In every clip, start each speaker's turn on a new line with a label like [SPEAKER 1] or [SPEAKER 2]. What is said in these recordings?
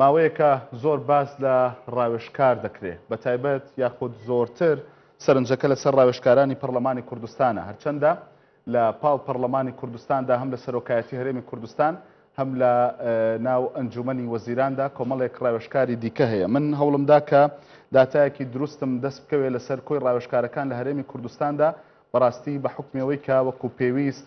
[SPEAKER 1] ماوەیەکە زۆر باس لە ڕاوێژکار دەکرێ، بە تایبەت یاخود زۆرتر سەرنجەکە لە سەر ڕاوێژکارانی پەڕڵەمانی کوردستانە، هەرچەندە لە پاڵ پەڕڵەمانی کوردستاندا هەم لە سەرۆکایەتی هەرێمی کوردستان هەم لە ناو ئەنجوومەنی وەزیراندا کۆمەڵێک ڕاوێژکاری دیکە هەیە. من هەوڵم دا کە داتایەکی دروستم دەست بکەوێ لە سەر کۆی ڕاوێژکارەکان لە هەرێمی کوردستاندا، بەڕاستی بە حوکمی ئەوەی کە وەکوو پێویست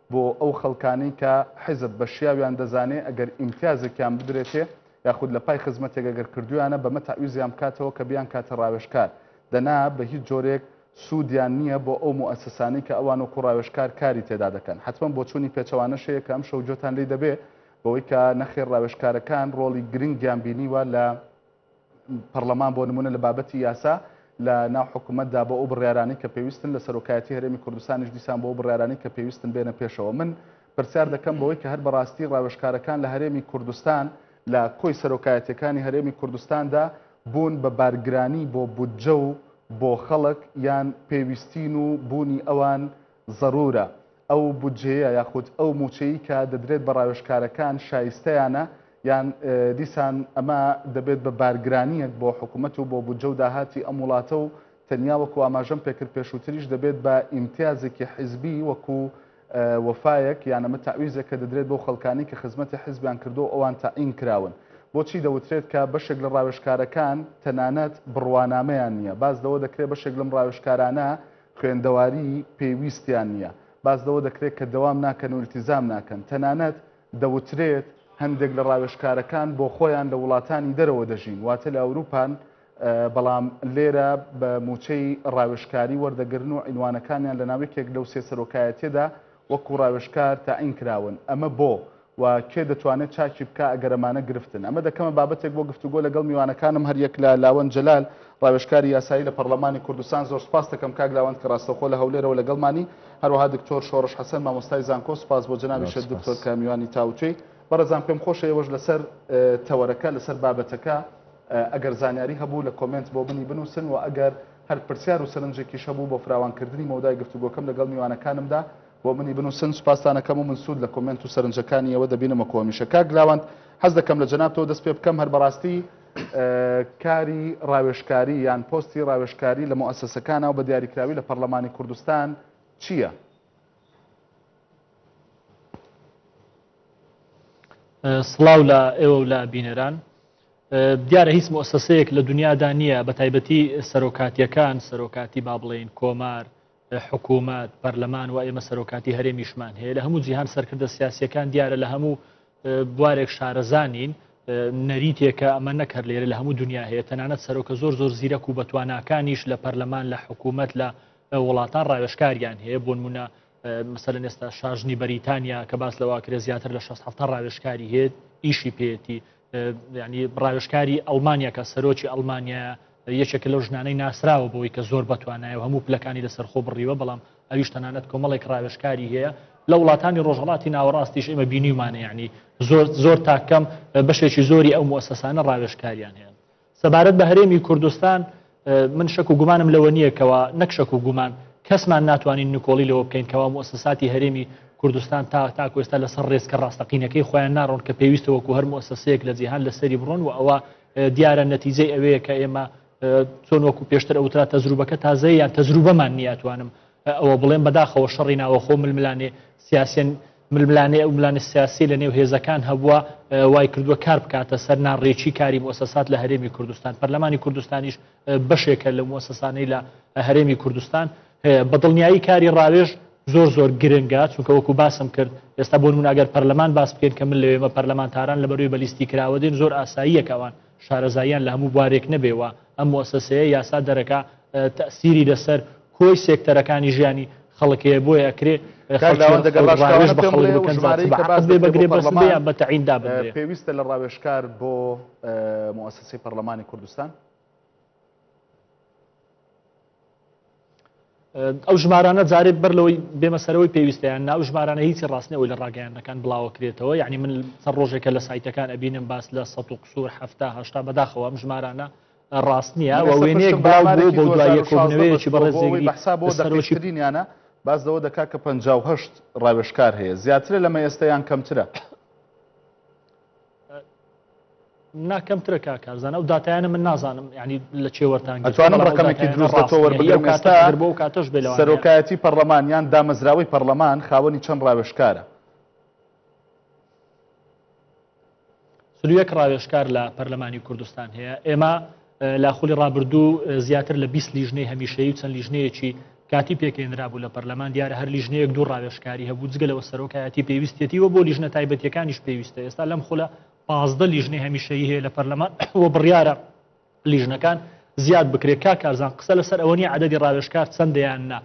[SPEAKER 1] بۆ ئەو خەڵکانەی کە حیزب بە شیاویان دەزانێ ئەگەر ئیمتیازێکیان بدرێتێ یاخود لە پای خزمەتێک ئەگەر کردوویانە بەمە تەعویزیان بکاتەوە کە بیانکاتە ڕاوێژکار دەنا بە هیچ جۆرێک سوودیان نییە بۆ ئەو موئەسسانەی کە ئەوان وەکوو ڕاوێژکار کاری تێدا دەکەن حەتمەن بۆچوونی پێچەوانەش هەیە کە ئەمشەو گوێتان لێی دەبێ بەوەی کە نەخێر ڕاوێژکارەکان ڕۆڵی گرنگیان بینیوە لە پەڕڵەمان بۆ نموونە لە بابەتی یاسا لە ناو حکوومەتدا بۆ ئەو بڕیارانەی کە پێویستن لە سەرۆکایەتی هەرێمی کوردستانیش دیسان بۆ ئەو بڕیارانەی کە پێویستن بێنە پێشەوە من پرسیار دەکەم بەوەی کە هەر بەڕاستی ڕاوێژکارەکان لە هەرێمی کوردستان لە کۆی سەرۆکایەتیەکانی هەرێمی کوردستاندا بوون بە بارگرانی بۆ بودجە و بۆ خەڵک یان پێویستین و بوونی ئەوان زەرورە ئەو بودجەیە یاخود ئەو مووچەی کە دەدرێت بە ڕاوێژکارەکان شایستەیانە یان دیسان ئەمە دەبێت بە بارگرانییەک بۆ حکومەت و بۆ بودجە و داهاتی ئەم وڵاتە و تەنیا وەکو ئاماژەم پێکرد پێشووتریش دەبێت بە ئیمتیازێکی حیزبی وەکو وەفایەک یان ئەمە تەعویزێک کە دەدرێت بەو خەڵکانی کە خزمەتی حیزبیان کردو و ئەوان تەعین کراون بۆچی دەوترێت کە بەشێک لە ڕاوێژکارەکان تەنانەت بڕوانامەیان نییە باس لەوە دەکرێت بەشێک لەم ڕاوێژکارانە خوێندەواریی پێویستیان نییە، باس لەوە دەکرێت کە دەوام ناکەن و ئیلتیزام ناکەن، تەنانەت دەوترێت هەندێک لە ڕاوێژکارەکان بۆ خۆیان لە وڵاتانی دەرەوە دەژین، واتە لە ئەوروپان، بەڵام لێرە بە مووچەی ڕاوێژکاری وەردەگرن و عینوانەکانیان لەناو یەکێک لەو سێ سەرۆکایەتییەدا وەکو ڕاوێژکار تەعین کراون، ئەمە بۆ؟ وە کێ دەتوانێت چاکی بکا ئەگەر ئەمانە گرفتن؟ ئەمە دەکەمە بابەتێک بۆ گفتوگۆ لەگەڵ میوانەکانم هەر یەک لە، لاوەند جەلال، ڕاوێژکاری یاسایی لە پەڕلەمانی کوردستان زۆر سوپاست دەکەم کاک لاوەند کە ڕاستەوخۆ لە هەولێرەوە لەگەڵمانی، هەروەها دکتۆر شۆڕش حەسەن مامۆستای زانکۆ سوپاس بۆ جەنابیشت دکتۆر کە میوانی تاوتوێی. بەڕێزان پێم خۆشە ئێوەش لەسەر تەوەرەکە لەسەر بابەتەکە ئەگەر زانیاری هەبوو لە کۆمێنت بۆ منی بنووسن وە ئەگەر هەر پرسیار و سەرنجێکیش هەبوو بۆ فراوانکردنی مەودای گفتوگۆکەم لەگەڵ میوانەکانمدا بۆ منی بنوسن سوپاستان ئەکەم و من سود لە کۆمێنت و سەرنجەکانی ئێوە دەبینم وەکو هەمیشە کاک لاوەند حەز دەکەم لە جەنابتەوە دەست پێ بکەم هەر بەڕاستی کاری ڕاوێژکاری یان پۆستی ڕاوێژکاری لە موئەسەسەکانا و بە دیاریکراوی لە پەڕلەمانی کوردستان چییە؟
[SPEAKER 2] سڵاو لە ئێوە و لە بینەران دیارە هیچ مؤسسەیەک لە دنیادا نییە بە تایبەتی سەرۆکاتیەکان سەرۆکاتی با بڵێن کۆمار حکومەت، پەرلەمان و ئێمە سەرۆکاتی هەرێمیشمان هەیە، لە هەموو جیهان سەرکردە سیاسییەکان دیارە لە هەموو بوارێک شارەزا نین، نەریتێکە ئەمە نەک هەر لێرە لە هەموو دنیا هەیە، تەنانەت سەرۆکە زۆر زۆر زیرەک و بەتواناکانیش لە پەرلەمان لە حکومەت لە وڵاتان ڕاوێژکاریان هەیە بۆنمونە مەسەلەن ئێستا شاژنی بەریتانیا کە باس لەواکرێ زیاتر لە شەست حەفتا ڕاوێژکاری هەیە ئیشی پێێتی ینی ڕاوێشکاری ئەلمانیا کە سەرۆکی ئەلمانیا یەکێک لەو ژنانەی ناسراوە بۆی کە زۆر بەتوانایە و هەموو پلەکانی لەسەر خۆ بڕیوە بەڵام ئەویش تەنانەت کۆمەڵێک ڕاوێشکاری هەیە لە وڵاتانی ڕۆژهڵاتی ناوەڕاستیش ئمە بینیمانە ینی زۆر زۆر تاکەم بەشێکی زۆری ئەو موسەسانە ڕاوێشکاریان هەیە سەبارەت بە هەرێمی کوردستان من شەک و گومانم لەوە نییە کەەوە نەک شەک و گومان کەسمان ناتوانین نکۆڵی لەوە بکەین کەوا مؤسساتی هەرێمی کوردستان تا تاکو ئێستا لەسەر ڕێزکە ڕاستەقینەکەی خۆیان ناڕۆن کە پێویستە وەکو هەر مؤسسەیەک لە جیهان لەسەری بڕۆن و ئەوە دیارە نەتیجەی ئەوەیە کە ئێمە چۆن وەکو پێشتر ئەوترا تەزروبەکە تازەیان تەزروبەمان نیاتوانم ئەوە بڵێم بەداخەوە شەڕی ناوەخۆ ململانێ سیاسێن ململانێ ئەو ملانە سیاسی لە نێو هێزەکان هەبووە وای کردووە کار بکاتە سەر ناڕێکی کاری مۆسەسات لە هەرێمی کوردستان پەرلەمانی کوردستانیش بەشێکە لە مۆسەسانەی لە هەرێمی کوردستان هەیە بەدڵنیایی کاری ڕاوێژ زۆر زۆر گرنگە چونکە وەکو باسم کرد ئێستا بۆ مناگەر پەرلەمان باس بکەین کە من لەوێمە پەرلەمانتاران لە بەروی بەلیستی کراوە دێن زۆر ئاساییەکەوان شارەزاییان لە هەموو بوارێک نەبێ و ئەم موئەسەسەیە یاسا دەرەکا تەئسیری لەسەر کۆی سێکتەرەکانی ژیانی خەڵک هەیە بۆیە ئەکرێ کاک لاوەند ئەگەر ڕاشکاوانە پێم بڵێ ئەو ژمارەی
[SPEAKER 1] کە باس دەکرێت بۆ پەڕڵەمان پێویستە لە ڕاوێژکار بۆ موئەسەسەی پەڕڵەمانی کوردستان؟
[SPEAKER 2] ئەو ژمارانە جارێت بەر لەوەی بێمە سەرەوەی پێویستیان ناو ژمارانە هیچی ڕاستنی ئەوی لە ڕاگەیانەکان بڵاوەکرێتەوە یعنی من سەر ڕۆژێکە لە سایتەکان ئەبینم باس لە سە و قسوور هەفتا هشتا بەداخەوە ئەم ژمارانە ڕاست نییە وە وێنەیەک بەڵێ بۆ دوایەکۆبنەوەیەکی بەڕێزێگری حساب بۆ
[SPEAKER 1] دەرۆشترینیانە باس لەوە دەکات کە 5 ڕاوێشکار هەیە زیاترە لەمە ئێستەیان کەمترە
[SPEAKER 2] نا کەمترە کا کارزان ئەو دااتیانە من نازانم ینی لە چێوەرتان ئەتوانم ڕقمێکی دروست
[SPEAKER 1] بە تۆوە بگەم کاتە بۆ کاتەش بێ
[SPEAKER 2] سەرۆکایەتی پەرلەمان
[SPEAKER 1] یان دامەزراوەی پەرلەمان خاوەنی چەند ڕاوێشکارە
[SPEAKER 2] سلویەک ڕاوێشکار لە پەرلەمانی کوردستان هەیە ئێمە لە خولی ڕابردوو زیاتر لە 20 لیژنەی هەمیشەی و چەند لیژنەیەکی کاتی پێکێنرابوو لە پەرلەمان دیارە هەر لیژنەیەک دوو ڕاوێشکاری هەبوو جگە لەوە سەرۆکایەتی پێویستێتی و بۆ لیژنە تایبەتیەکانیش پێویستە ئێستا لەم خولە پازدە لیژنەی هەمیشەی هەیە لە پەرلەمان و بڕیارە لیژنەکان زیاد بکرێت کا کارزان قسە لەسەر ئەوە نیە عددی ڕاوێشکار چەندیان نا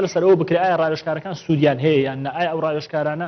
[SPEAKER 2] لەسەر ئەوە بکرێت ئایا ڕاوێشکارەکان سوودیان هەیە یان نە ئایا ئەو ڕاوێشکارانە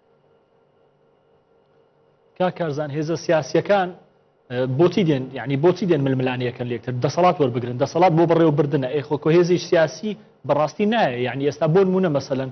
[SPEAKER 2] کاک کارزان هێزە سیاسیەکان بۆچی دێن یعنی بۆچی دێن ململانەیەکە لێکتر دەسەڵات وەربگرن دەسەڵات بۆ بەڕێوە بردنە ئێخۆکۆ هێزی سیاسی بەڕاستی نایە یعنی ئێستا بۆ نمونە مەسەن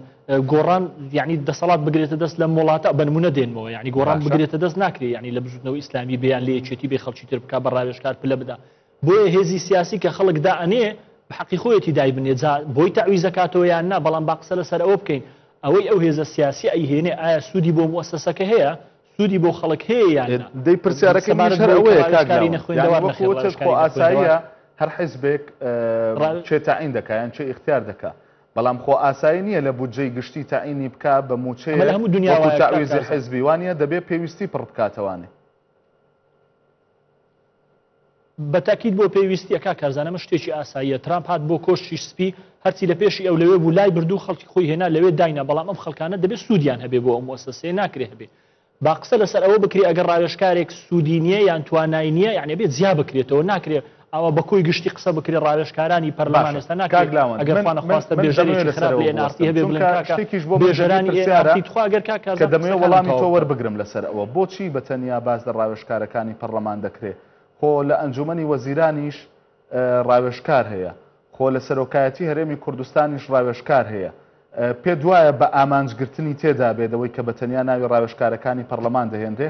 [SPEAKER 2] گۆڕان یعنی دەسەڵات بگرێتە دەست لە وڵاتە بنمونە دێنمەوە یعنی گۆڕان بگرێتە دەست ناکرێت ینی لە بزودنەوە ئیسلامی بیان لە یەکێتی بێ خەڵکی تر بک بە ڕاوێشکار پلە بدا بۆیە هێزی سیاسی کە خەڵک دا ئەنێ بە حەقی خۆیەتی دایبنێ جا بۆی تەعویز ئەکاتەوە یان نا بەڵام با قسە لەسەر ئەوە بکەین ئەوەی ئەو هێزە سیاسیە ئەیهێنێ ئایا سوودی بۆ موەسەسەکە هەیە سوودی بۆ خەڵک هەیە یان نا دەی پرسیارەکەی منیش
[SPEAKER 1] سەبارەت هەر بەوەی کە ئەوەیە کاک ڕاوێژکاری لاوەند یانی نەخوێندەوار وەکو نەخێر وتت خۆ ڕاوێژکاری نەخوێندەوار ئاساییە هەر حیزبێک ڕا- اه، چێ تەعین دەکا یان چێ ئیختیار دەکا بەڵام خۆ ئاسایی نییە لە بودجەی گشتی تەعینی بکا بە ئەمە لە مووچەیەک هەموو دنیا وەکو وایە کاک تەعویزی کازم حیزبی وانیە دەبێ پێویستی پڕ بکاتەوانێ
[SPEAKER 2] بە تەئکید بۆ پێویستیە کاک کارزان ئەمە شتێکی ئاساییە ترامپ هات بۆ کۆشکی سپی هەرچی لە پێشی ئەو لەوێ بوو لای بردوو خەڵکی خۆی هێنا لەوێ داینا بەڵام ئەم خەڵکانە دەبێ سوودیان هەبێ بۆ ئەو موسەسەیە ناکرێ هەبێ با قسە لەسەر ئەوە بکرێ ئەگەر ڕاوێژکارێک سوودی نییە یان توانای نییە یعنی بێ جیا بکرێتەوە ناکرێ ئەوە بە کۆی گشتی قسە بکرێ ڕاوێژکارانی پەرلەمان ئێستا ناکرێت ئەگەر خوانە خواستە بێژەرێکی خراپ لە ئێنارسی هەبێ بڵێن کاکە شتێکیش بۆ بێژەرانی ئێنارسی تخوا ئەگەر کاک کارزان کە دەمەوێ وەڵامی
[SPEAKER 1] تۆ وەربگرم لەسەر ئەوە بۆچی بە تەنیا باس لە ڕاوێژکارەکانی پەڕلەمان دەکرێ خۆ لە ئەنجومەنی وەزیرانیش ڕاوێژکار هەیە خۆ لە سەرۆکایەتی هەرێمی کوردستانیش ڕاوێژکار هەیە پێت وایە بە ئامانج گرتنی تێدا بێدەوەی کە بە تەنیا ناوی ڕاوێژکارەکانی پەرلەمان دەهێنرێ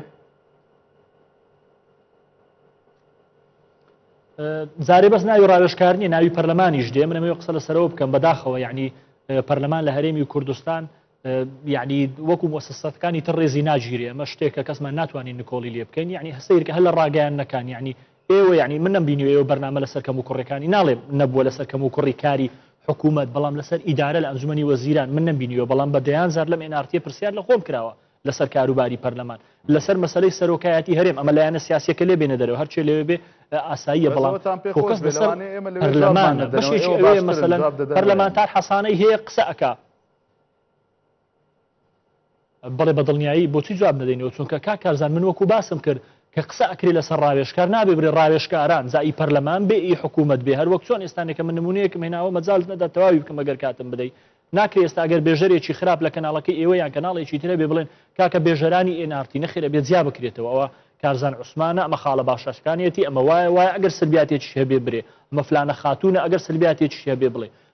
[SPEAKER 2] زارێ بەس ناوی ڕاوێژکارنی ناوی پەرلەمانیش دێ منەوەی قسە لە سەرەوە بکەم بەداخەوە یعنی پەرلەمان لە هەرێمی کوردستان یعنی وەکو مۆسەسەتەکانی تر ڕێزی ناگیرێ ئەمە شتێکە کەسمان ناتوانین نکۆڵی لێ بکەین یعنی هەسەیرکە هەل لە ڕاگەیان نەکان یعنی ئێوە یعنی منم بینیوە ئێوە بەرنامە لەسەر کەم و کوڕەکانی ناڵێم نەبووە لەسەر کەم و کوڕی کاری حکوومەت بەڵام لەسەر ئیدارە لە ئەنجومی وەزیران من نبینیوە بەڵام بە دەیان زار لەم ئێنارتیە پرسیار لە خۆم کراوە لەسەر کاروباری پەرلەمان لەسەر مەسلەی سەرۆکایەتی هەرێم ئەمە لایەنە سیاسەکە لێ بێنە دەرەوە هەرچێ لێ بێ ئاساییە بەڵام فۆکەس لەسەر پەرلەمانە بەشێکی ئەوەیە مەسەلەن پەرلەمانتار حەسانەی هەیە قسە ئەکا بەڵێ بە دڵنیایی بۆچی جواب نەدەینەوە چونکە کا کارزان من وەکو باسم کرد کە قسە ئەکرێ لەسەر ڕاوێشکار نابێ برێ ڕاوێشکاران جا ئی پەرلەمان بێ ئی حکوومەت بێ هەر وەک چۆن ئێستانێکە من نمونەیەکم هێناوە مەجال نەدا تەواوی بکەم ئەگەر کاتم بدەی ناکرێ ئێستا ئەگەر بێژەرێکی خراپ لە کەناڵەکەی ئێوە یان کەناڵێکی ترە بێ بڵێن کاکە بێژەرانی ئێنارتی نەخێرە بێ جیا بکرێتەوە ئەوە کارزان عوسمانە ئەمە خاڵە باشەکانیەتی ئەمە وایە وایە ئەگەر سربیاتێکی هەبێ برێ ئەمە فلانە خاتونە ئەگەر سربیاتێکی هەبێ بڵێ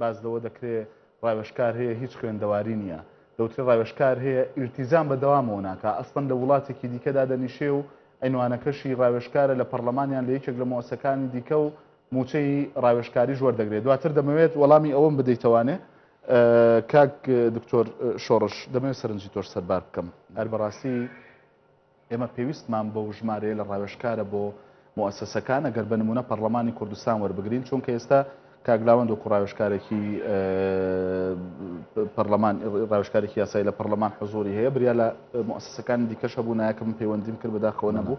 [SPEAKER 1] باس لەوە دەکرێ ڕاوێژکار هەیە هیچ خوێندەواری نییە، دەوترێ ڕاوێژکار هەیە ئیلتیزام بە دەوامەوە ناکا، ئەسڵەن لە وڵاتێکی دیکە دادەنیشێ و عینوانەکەشی ڕاوێژکارە لە پەڕڵەمان یان لە یەکێک لە موەسەکانی دیکە و مووچەی ڕاوێژکاریش وەردەگرێ. دواتر دەمەوێت وەڵامی ئەوەم بدەیتەوانێ کاک دکتۆر شۆڕش، دەمەوێت سەرنجی تۆش سەربار بکەم. هەر بەڕاستی. ئێمە پێویستمان بەو ژمارەیە لە ڕاوێژکارە بۆ موئەسەسەکان، ئەگەر بە نموونە پەڕڵەمانی کوردستان وەربگرین، چونکە ئێستا کاک لاوەند وەکوو ڕاوێژکارێکی پەڕڵەمان، ڕاوێژکارێکی یاسایی لە پەڕڵەمان حزووری هەیە، بریا لە موئەسەسەکانی دیکەش هەبوو، نایەکە من پەیوەندیم کرد بەداخەوە نەبوو،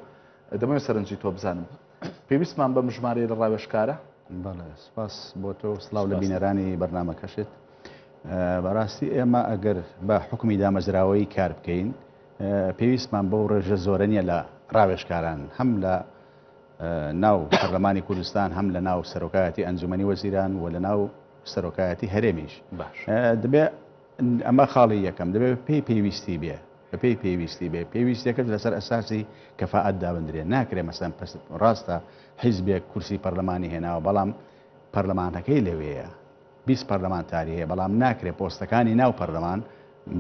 [SPEAKER 1] دەمەوێت سەرنجی تۆ بزانم. پێویستمان بەم ژمارەیە لە ڕاوێژکارە؟ بەڵێ، سپاس
[SPEAKER 3] بۆ تۆ و سڵاو لە بینەرانی بەرنامەکەشت. بەڕاستی ئێمە ئەگەر بە حوکمی دامەزراوەیی کار بکەین، پێویستمان بەو ڕێژە زۆرە نییە لە ڕاوێژکاران، هەم لە ناو پەرلەمانی کوردستان، هەم لە ناو سەرۆکایەتی ئەنجومەنی وەزیران و لە ناو سەرۆکایەتی هەرێمیش باش دەبێ ئەمە خاڵی یەکەم دەبێت پێی پێویستی بێ بە پێی پێویستی بێ پێویستەکەت لەسەر ئەساسی کەفاعات دابدرێن ناکرێ مەسەن پست ڕاستە حیزبێک کورسی پەرلەمانی هێناوە بەڵام پەرلەمانەکەی لەوەیە بیست پەرلەمانتاری هەیە، بەڵام ناکرێت پۆستەکانی ناو پەرلەمان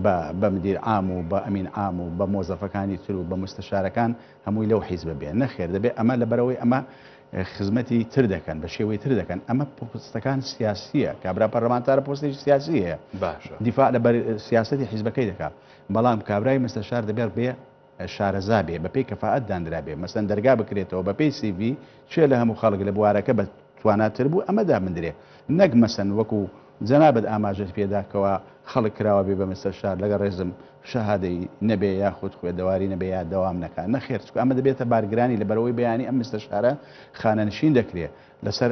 [SPEAKER 3] بە بە مدیر عام و بە ئەمین عام و بە مۆزەفەکانی تر و بە موستەشارەکان هەمووی لەو حیزبە بێ، نەخێر دەبێت ئەمە لەبەرئەوەی ئەمە خزمەتی تر دەکەن بە شێوەی تر دەکەن، ئەمە پۆستەکان سیاسییە، کابرا پەرلەمانتارە پۆستێکی سیاسی هەیە، دیفاع لە سیاسەتی حیزبەکەی دەکات، بەڵام کابرای مستەشار دەبێت بێ. شارەزا بێ بەپێی کەفائەت دانرا بێ مەسەن دەرگا بکرێتەوە بەپێی سی ڤی کێ لە هەموو خەڵک لە بوارەکە بە توانا تر بوو ئەمە دابندرێ نەک مەسەن وەکو جەنابت ئاماژەت پێ دا کەوا خەڵک کراوە بێ بە مستەرشار لەگەڵ ڕێزم شەهادەی نەبێ یاخود خوێدەواری نەبێ یا دەوام نەکا نەخێر چکو ئەمە دەبێتە بارگرانی لە بەرەوەی بەیانی ئەم مستەرشارە خانەنشین دەکرێ لەسەر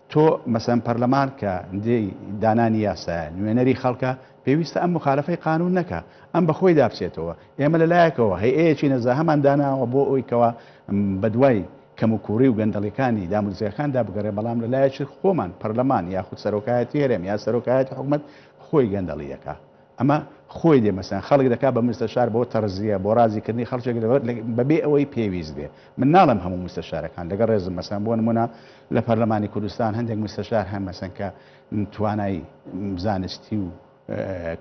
[SPEAKER 3] تۆ مەسەن پەرلەمان کە ندەی دانانی یاسایە، نوێنەری خەڵکە، پێویستە ئەم موخالەفەی قانون نەکا، ئەم بە خۆیدا بچێتەوە، ئێمە لە لایەکەوە هەیئەیەکی نەزەهەمان داناوە بۆ ئەوەی کەوا بە دوای کەم و کووڕی و گەندەڵیکانی دامودزگاکاندا بگەڕێ بەڵام لە لایەکی خۆمان پەرلەمان یاخود سەرۆکایەتی هەرێم یا سەرۆکایەتی حکومەت خۆی گەندەڵی دەکا. ئەمە خۆی دێ مەسەن خەڵک دەکات بە مستەشار بۆ تەڕزیە بۆ ڕازی کردنی خەڵکێک بە بێ ئەوەی پێویست بێ من ناڵێم هەموو مستەشارەکان لەگەڵ ڕێزم مەسەن بۆ نموونە لە پەرلەمانی کوردستان هەندێک مستەشار هەن مەسەن کە توانای زانستی و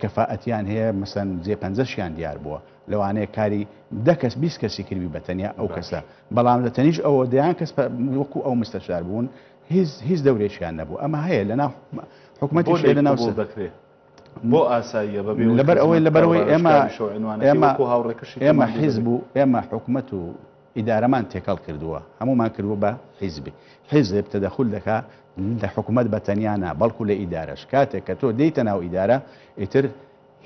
[SPEAKER 3] کەفائەتیان هەیە مەسەن جێ پەنجەشیان دیار بووە لەوانەیە کاری دە کەس بیست کەسی کردوی بە تەنیا ئەو کەسە بەڵام لە تەنیش ئەوە دەیان کەس وەکو ئەو مستەشار بوون هیچ هیچ دەورێکیان نەبوو ئەمە هەیە لەنا حکوومەتی لەنا دەکرێت
[SPEAKER 1] بۆ ئاساییە بە بێ ئەوەی خزمەت بکا و ڕاوێژکاری
[SPEAKER 3] شەو عینوانەکەی وەکو هاوڕێکەشی کەمان دوو دەبێ. ئێمە حیزب و ئێمە حکومەت و ئیدارەمان تێکەڵ کردووە، هەموومان کردووە بە حیزبی. حیزب تەدەخول دەکا لە حکومەت بە تەنیا نا بەڵکو لە ئیدارەش. کاتێک کە تۆ دێیتە ناو ئیدارە ئیتر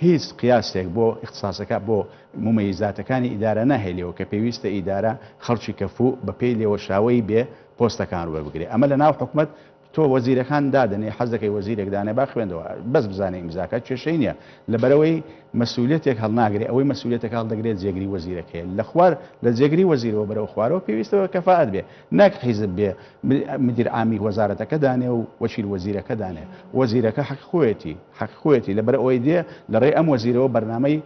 [SPEAKER 3] هیچ قیاسێک بۆ ئیختساسەکە بۆ مومەیزاتەکانی ئیدارە ناهێلیەوە کە پێویستە ئیدارە خەڵکی کەفوو بە پێی لێوەشاوەی بێ پۆستەکان وەربگرێ. ئەمە لە ناو حکومەت. تۆ وەزیرەکان دادەنێی حەز دەکەی وەزیرێک دانێ با خوێندەوە بەس بزانێ ئیمزاکە کێشەی نیە لەبەرئەوەی مەسولیەتێک هەڵناگرێ ئەوەی مەسولیەتەکە هەڵدەگرێ جێگری وەزیرەکەیە لە خوار لە جێگری وەزیرەوە بەرەو خوارەوە پێویستە بە کەفائەت بێ ناک حیزب بێ مدیر عامی وەزارەتەکە دانێ و وەکیل وەزیرەکە دانێ وەزیرەکە حەق خۆیەتی حەق خۆیەتی لەبەرئەوەی دێ لە ڕێ ئەم وەزیرەوە بەرنامەی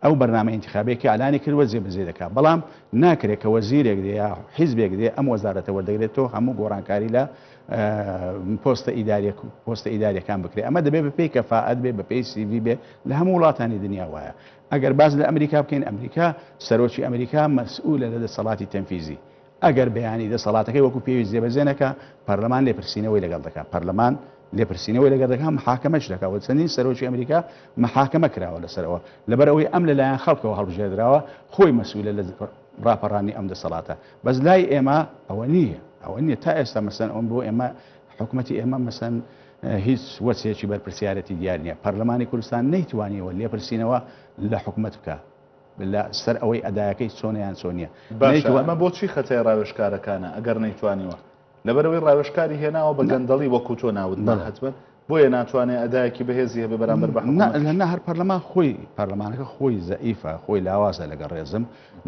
[SPEAKER 3] ئەو بەرنامە ئینتیخابیە کە ئەلانی کردوە جێ بەجێ دەکا بەڵام ناکرێ کە وەزیرێک دێ یا حیزبێک دێ ئەم وەزارەتە وەردەگرێ تۆ هەموو گۆڕانکاری لە پۆستە ئیداریە پۆستە ئیداریەکان بکرێ ئەمە دەبێ بە پێی کەفاعەت بێ بە پێی سیڤی بێ لە هەموو وڵاتانی دنیا وایە ئەگەر باز لە ئەمریکا بکەین ئەمریکا سەرۆکی ئەمریکا مەسئولە لە دەسەڵاتی تەنفیزی ئەگەر بیانی دەسەڵاتەکەی وەکو پێویست جێبەجێ نەکا، پەرلەمان لێپرسینەوەی لەگەڵ دەکا، پەرلەمان لێپرسینەوەی لەگەڵ دەکا، محاکەمەش دەکا و چەندین سەرۆکی ئەمریکا محاکەمە کراوە لەسەر ئەوە، لەبەر ئەوەی ئەم لەلایەن خەڵکەوە هەڵبژێردراوە، خۆی مەسئولە لە ڕاپەڕانی ئەم دەسەڵاتە، بەس لای ئێمە ئەوە نییە، ئەوە نییە تا ئێستا مەسەن ئەوەن بۆ ئێمە حکومەتی ئێمە مەسەن هیچ وەچەیەکی بەرپرسیارێتی دیار نییە، پەرلەمانی کوردستان نەیتوانیوە لێپرسینەوە لە حکومەت بکا، لە سەر ئەوەی ئەدایەکەی چۆنە یان چۆن نیە باشە نەیتوان. ئەمە بۆچی
[SPEAKER 1] خەتای ڕاوێژکارەکانە ئەگەر نەیتوانیوە لەبەر ئەوەی ڕاوێژکاری هێناوە بە نا گەندەڵی وەکو تۆ ناوت بەڵێ ناهات بن بۆیە ناتوانێ ئەدایەکی بەهێزی هەبێ بەرامبەر بە نا لە حکوومەتیش. نا هەر پەرلەمان
[SPEAKER 3] خۆی پەرلەمانەکە خۆی زەئیفە خۆی لاوازە لەگەڵ ڕێزم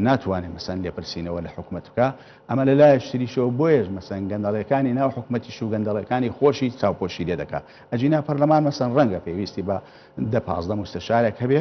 [SPEAKER 3] ناتوانێ مەسەن لێپرسینەوە لە حکومەت بکا ئەمە لە لایەش تریشەوە بۆیەش مەسەن گەندەڵێکانی ناو حکومەتیش و گەندەڵێکانی خۆشی چاوپۆشی لێ دەکا ئەجینا پەرلەمان مەسەن ڕەنگە پێویستی بە دە پازدە موستەشارێک هەبێ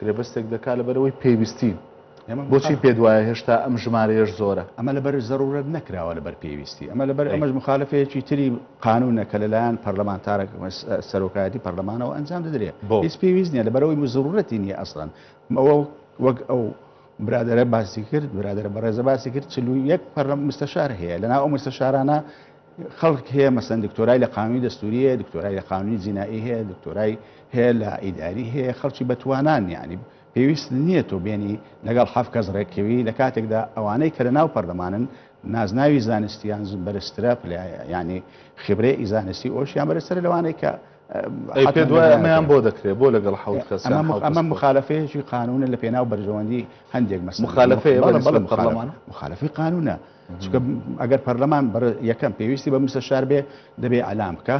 [SPEAKER 1] گرێبەستێک دەکات لەبەرئەوەی پێویستین. بۆچی پێت وایە هێشتا ئەم ژمارەیەش زۆرە؟ ئەمە لەبەر زەرورەت
[SPEAKER 3] نەکراوە لەبەر پێویستی، ئەمە لەبەر ئەمەش مخالفەیەکی تری قانونە کە لەلایەن پەرلەمانتارە سەرۆکایەتی پەرلەمانەوە ئەنجام دەدرێت بۆ هیچ پێویست نیە لەبەرەوەی زرورەتی نیە ئەسڵەن ئەوە وەک ئەو برادرە باسی کرد برادرە بەڕێزە باسی کرد چ یەک پەرلەم مستەشار هەیە لەنا ئەو مستەشارانە خەڵک هەیە مەسەن دکتۆرای لە قانونی دەستوری هەیە دکتۆرای لە قانونی جینایی هەیە دکتۆرای هەیە لە ئیداری هەیە خەڵکی بەتوانان یعنی پێویست نییە تۆ بێنی لەگەڵ حەف کەس ڕێککەوی لە کاتێکدا ئەوانەی کە لە ناو پەرلەمانن نازناوی زانستیان بەرزترە ینی خبرێ ئیزانستی ئۆشیان بەرزترە لەوانەی کە
[SPEAKER 1] ئەمەیان بۆ دەکرێت بۆ لەگەڵ حوت کەس ئەمە مخالفەیەکی
[SPEAKER 3] قانونە لە پێناو بەرژەوەندی هەندێک مەس مخالفەیە بەڵێ بەڵێ مخالفی قانونە چونکە ئەگەر پەرلەمان بەر یەکەم پێویستی بە مستەشار بێ دەبێ ئەلام بکە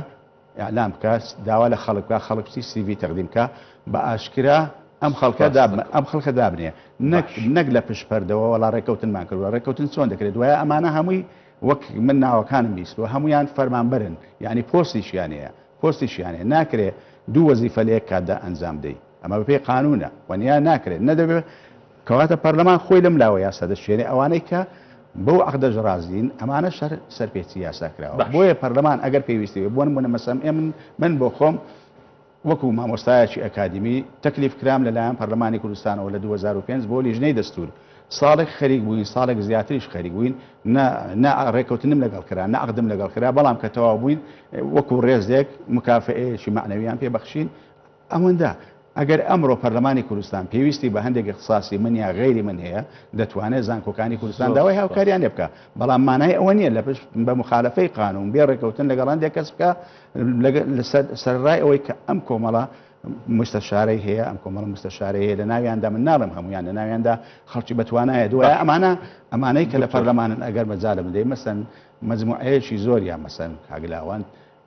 [SPEAKER 3] ئەلام بکە داوا لە خەڵک بکە خەڵک چی سیوی تەقدیم بکە بە ئاشکرا ئەم خەڵکە دابن ئەم خەڵکە دابنێ نەک نەک لە پشت پەردەوە وەڵا ڕێککەوتنمان کردوە ڕێککەوتن چۆن دەکرێت دوایە ئەمانە هەمووی وەک من ناوەکانم بیستوە هەمویان فەرمانبەرن یعنی پۆستیشیان هەیە پۆستیشیان هەیە ناکرێ دوو وەزیفە لە یەک کاتدا ئەنجام دەی ئەمە بەپێی قانونە وەنیا ناکرێت نەدەبێت کەواتە پەرلەمان خۆی لەم لاوە یاسا دەشێنێ، ئەوانەی کە بەو عەقدەش ڕازین ئەمانەش هەر سەرپێچی یاسا کراوە، باش. بۆیە پەرلەمان ئەگەر پێویستی بێ، بۆ نموونە مەسەم ئێمن من بۆ خۆم وەکوو مامۆستایەکی ئەکادیمی تەکلیف کرام لە لایەن پەرلەمانی کوردستانەوە لە دوو هەزار و پێنج بۆ لیژنەی دەستوور ساڵێک خەریک بووین، ساڵێک زیاتریش خەریک بووین، نە نە ڕێککەوتنم لەگەڵ کرا، نە عەقدم لەگەڵ کرا، بەڵام کە تەواو بووین وەکوو ڕێزێک مکافەئەیەکی مەعنەوییان پێ بەخشین، ئەوەندە، ئەگەر ئەمڕۆ پەرلەمانی کوردستان پێویستی بە هەندێک اختصاصی من یا غەیری من هەیە، دەتوانێت زانکۆکانی کوردستان داوای هاوکارییان لێ بکات، بەڵام مانای ئەوە نییە لە پشت بە موخالەفەی قانوون بێ ڕێکەوتن لەگەڵ هەندێک کەس بکات لەسەر سەرەڕای ئەوەی کە ئەم کۆمەڵە موستەشارەی هەیە، ئەم کۆمەڵە موستەشارەی هەیە لە ناویاندا من ناڵێم هەموویان لە ناویاندا خەڵکی بەتوانایە، دوایە ئەمانە ئەمانەی کە لە پەرلەمانن ئەگەر مەجالم بدەی مەسەن مەجموعەیەکی زۆر یا مەسەن کاک لاوەند،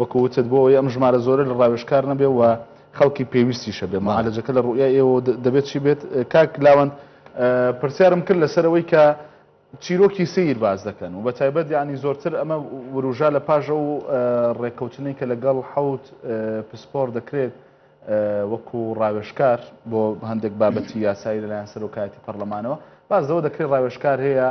[SPEAKER 1] وەکو وتت بۆ ئەوەی ئەم ژمارە زۆرە لە ڕاوێژکار نەبێ و خەڵکی پێویستیش هەبێ معالەجەکە لە ڕوئیای ئێوەوە دەبێت چی بێت کاک لاوەند پرسیارم کرد لەسەر ئەوەی کە چیرۆکی سیر باز دەکەن و بە تایبەت یعنی زۆرتر ئەمە وروژا لە پاژە و ڕێککەوتنی کە لەگەڵ حوت پسپۆر دەکرێت وەکو ڕاوێشکار بۆ هەندێک بابەتی یاسایی لەلایەن سەرۆکایەتی پەرلەمانەوە باز لەوە دەکرێت ڕاوێشکار هەیە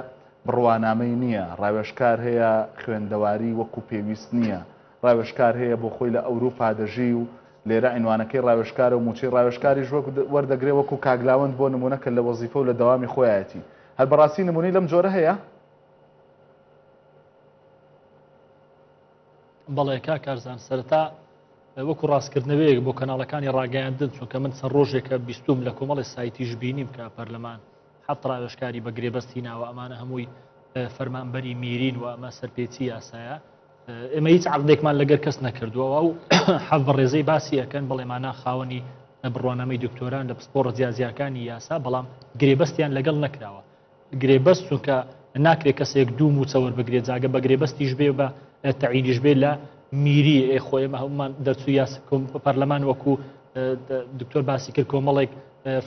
[SPEAKER 1] بڕوانامەی نییە، ڕاوێژکار هەیە، خوێندەواری وەکو پێویست نییە، ڕاوێژکار هەیە بۆ خۆی لە ئەوروپا دەژی و لێرە عینوانەکەی ڕاوێژکارە و مووچەی ڕاوێژکاریش وەردەگرێ وەکو کاک لاوەند بۆ نموونە کە لە وەزیفە و لە دەوامی خۆیایەتی هەر بەڕاستی نموونەی لەم جۆرە هەیە؟
[SPEAKER 2] بەڵێ کاک کارزان سەرەتا وەکو ڕاستکردنەوەیەک بۆ کەناڵەکانی ڕاگەیاندن چونکە من چەند ڕۆژێکە بیستوم لە کۆمەڵی سایتیش بینیم کە پەرلەمان هەفت ڕاوێژکاری بە گرێبەست هیناوە ئەمانە هەمووی فەرمانبەری میرین و ئەمە سەرپێچی یاسایە ئێمە هیچ عقدێکمان لەگەر کەس نەکردووە و حەف بە ڕێزەی باسی ئەەکەن بڵێمانە خاوەنی بڕوانامەی دکتۆران لە پسپۆڕ جیازیاکانی یاسا بەڵام گرێبەستیان لەگەڵ نەکراوە گرێبەست چونکە ناکرێت کەسێک دوو موچەوەەر بگرێت جاگە بە گرێبەستیش بێ بە تەعینیش بێ لە میری ئێخۆیمە هەمومان دەرچوو یاس پەرلەمان وەکو دکتۆر باسی کرد کۆمەڵێک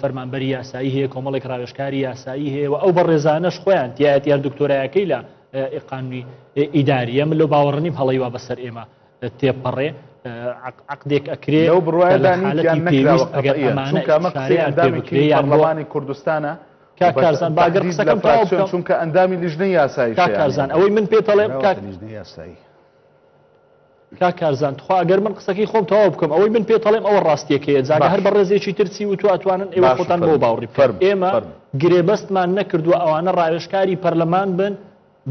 [SPEAKER 2] فەرمانبەری یاسایی هەیە کۆمەڵێک ڕاوێشکاری یاسایی هەیە و ئەو بەڕێزانەش خۆیان تایەتیان دکتۆرایەکەی لە ئقانوی ئیداریە من لە باوەڕنیم هەڵی وا بەسەر ئێمە تێپەڕێ عقدێک ئەکرێ و
[SPEAKER 1] بڕواندانی کوردستانە کاکارزان
[SPEAKER 2] باگەر قسەکەم چونکە ئەندامی لیژنە
[SPEAKER 1] یاسایی کاکارزان ئەوەی من
[SPEAKER 2] پێتەڵێم یاسایی کاک کارزان تخوا ئەگەر من قسەکەی خۆم تەواو بکەم ئەوەی من پێتەڵێم ئەوە ڕاستیەکەیە جاگە هەر بە ڕێزێکی ترچی و تو ئەتوانن ئێوە خۆتان بۆ باوڕی فەرم ئێمە گرێبەستمان نەکردووە ئەوانە ڕاوێشکاری پەرلەمان بن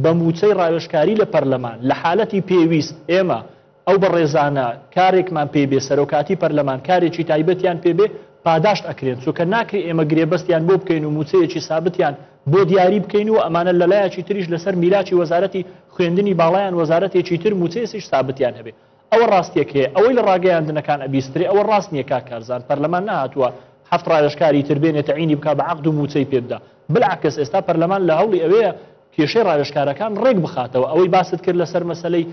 [SPEAKER 2] بە موچەی ڕاوێشکاری لە پەرلەمان لە حالەتی پێویست ئێمە ئەو بە ڕێزانە کارێکمان پێ بێ سەرۆکاتی پەرلەمان کارێکی تایبەتیان پێبێ پاداشت ئەکرێن چووکە ناکری ئێمە گرێبەستیان بۆ بکەین و موچەیەکی سابتیان بۆ دیاری بکەین و ئەمانە لە لایەکی تریش لەسەر میراچی وەزارەتی خوێندنی باڵایان وەزارەتێکی تر موچەیەسیش سابتیان هەبێ ئەوە ڕاستیەک هەیە ئەوەی لە ڕاگەیاندنەکان ئەبیسترێ ئەوە ڕاست نییە کا کارزان پەرلەمان نهاتووە هەفت ڕاوێشکاری تر بێنێ تعینی بک بە عقد و موچەی پێبدا بلعکەس ئێستا پەرلەمان لە هەوڵی ئەوەیە کێشەی ڕاوێشکارەکان ڕێک بخاتەوە ئەوەی باست کرد لەسەر مەسلەی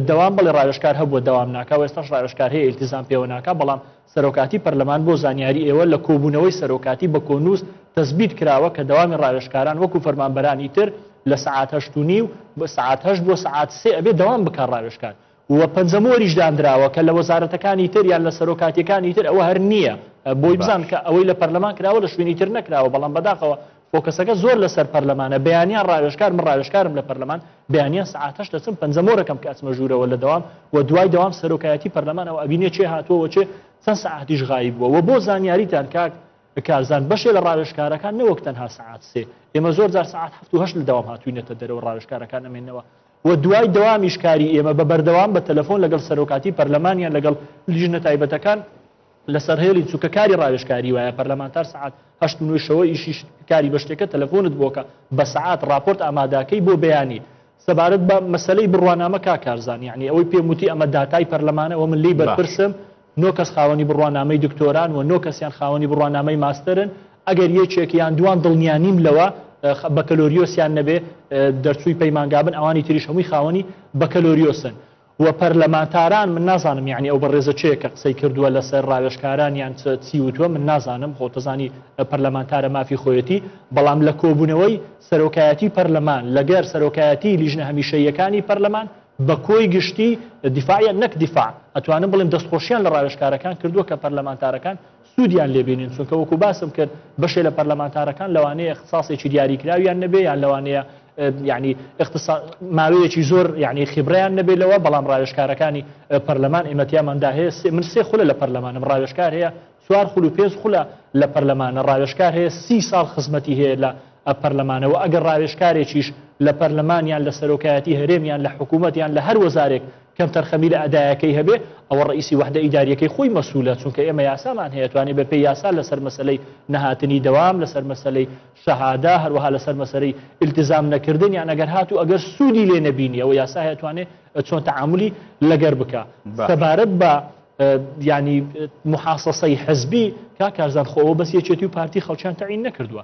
[SPEAKER 2] دەوام بڵێ ڕاوێشکار هەبووە دەوام ناکە و ئێستاش ڕاوێشکار هەیە ئیلتیزان پێوە ناکە بەڵام سەرۆکاتی پەرلەمان بۆ زانیاری ئێوە لە کۆبوونەوەی سەرۆکاتی بە کۆنووس تەسبیت کراوە کە دەوامی ڕاوێژکاران وەکو فەرمانبەرانی تر لە سەعات هەشت و نیو بۆ سەعات هەشت بۆ سەعات سێ ئەبێ دەوام بکات ڕاوێژکار و پەنجەمۆریش داندراوە کە لە وەزارەتەکانی تر یان لە سەرۆکاتیەکانی تر ئەوە هەر نییە بۆی بزان کە ئەوەی لە پەرلەمان کراوە لە شوێنی تر نەکراوە بەڵام بەداخەوە فۆکەسەکە زۆر لەسەر پەرلەمانە بەیانیان ڕاوێژکار من ڕاوێژکارم لە پەرلەمان بەیانیان سعات هەشت دەچم پەنجە مۆرەکەم کە ئەچمە ژوورەوە لە دەوام و دوای دەوام سەرۆکایەتی پەرلەمانەوە ئەبینێ چێ هاتووەوە چێ چەند سعاتیش غایی بووە و بۆ زانیاریتان کاک کارزان بەشێ لە ڕاوێژکارەکان نەوەک تەنها سعات سێ ئێمە زۆر جار سعات هەفت و هەشت لە دەوام هاتوینەتە دەرەوە ڕاوێژکارەکان ئەمێنەوە و دوای دەوامیش کاری ئێمە بە بەردەوام بە تەلەفۆن لەگەڵ سەرۆکاتی پەرلەمانیان لەگەڵ لیژنە تایبەتەکان لەسەر هێڵی چووکە کاری ڕاوێژکاری وایە پەرلەمانتار سەعات هەشت و نۆی شەوە ئیشیش کاری بەشتێکە تەلەفۆنت بۆکە بە سەعات ڕاپۆرت ئاماداکەی بۆ بەیانی سەبارەت بە مەسلەی بڕوانامە کا کارزان یعنی ئەوەی پێم وتی ئەمە داتای پەرلەمانە وە من لی بەرپرسم نۆ کەس خاوەنی بڕوانامەی دکتۆران و نۆ کەسیان خاوەنی بڕوانامەی ماستەرن ئەگەر یەکێک یان دوان دڵنیا نیم لەوە بەکەلۆریۆسیان نەبێ دەرچووی پەیمانگابن ئەوانی تریش هەمووی خاوەنی بەکەلۆریۆسن و پەرلەمانتاران من نازانم یعنی ئەو بەڕێزە چێ کە قسەی کردووە لەسەر ڕاوێشکاران یان چی وتووە من نازانم خۆتەزانی پەرلەمانتارە مافی خۆیەتی بەڵام لە کۆبوونەوەی سەرۆکایەتی پەرلەمان لەگەر سەرۆکایەتی لیژنە هەمیشەیەکانی پەرلەمان بە کۆی گشتی دیفاعە نەک دیفاع ئەتوانم بڵێم دەستخۆشیان لە ڕاوێشکارەکان کردووە کە پەرلەمانتارەکان سوودیان لێ بینین چونکە وەکو باسم کرد بەشێ لە پەرلەمانتارەکان لەوانەیە اختصاصێکی دیاریکراویان نەبێ یان لەوانەیە ینی ماوەیەکی زۆر ینی خیبڕیان نەبێ لەوە بەڵام ڕاوێشکارەکانی پەرلەمان ئێمەتیاماندا هەیە من سێ خولە لە پەرلەمانم ڕاوێشکار هەیە چوار خول و پێنج خولە لە پەرلەمانە ڕاوێشکار هەیە سی ساڵ خزمەتی هەیە لە پەرلەمانەوە ئەگەر ڕاوێشکارێکیش لە پەرلەمانیان لە سەرۆکایەتی هەرێمیان لە حکوومەتیان لە هەر وەزارێک کەمتەرخەمی لە ئەدایەکەی هەبێ ئەوە ڕئیسی وەحدە ئیداریەکەی خۆی مەسولە چونکە ئێمە یاسامان هەیە توانێ بە پێی یاسا لەسەر مەسەلەی نەهاتنی دەوام لەسەر مەسەلەی شەهادە هەروەها لەسەر مەسەرەی التزام نەکردن یان ئەگەر هات و ئەگەر سوودی لێ نەبینی ئەوە یاسا هەیە توانێ چۆن تەعاملی لەگەر بکە سەبارەت بە ینی محاسەسەی حزبی کا کارزان خۆەوە بەس یەکێتی و پارتی خەڵکیان تەعین نەکردووە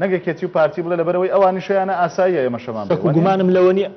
[SPEAKER 1] نەک یەکێتی و پارتی بڵێ لەبەرئەوەی ئەوانیشیانە ئاساییە ئێمەشەمان بێ شک و وەنیە؟ گومانم لەوە نیە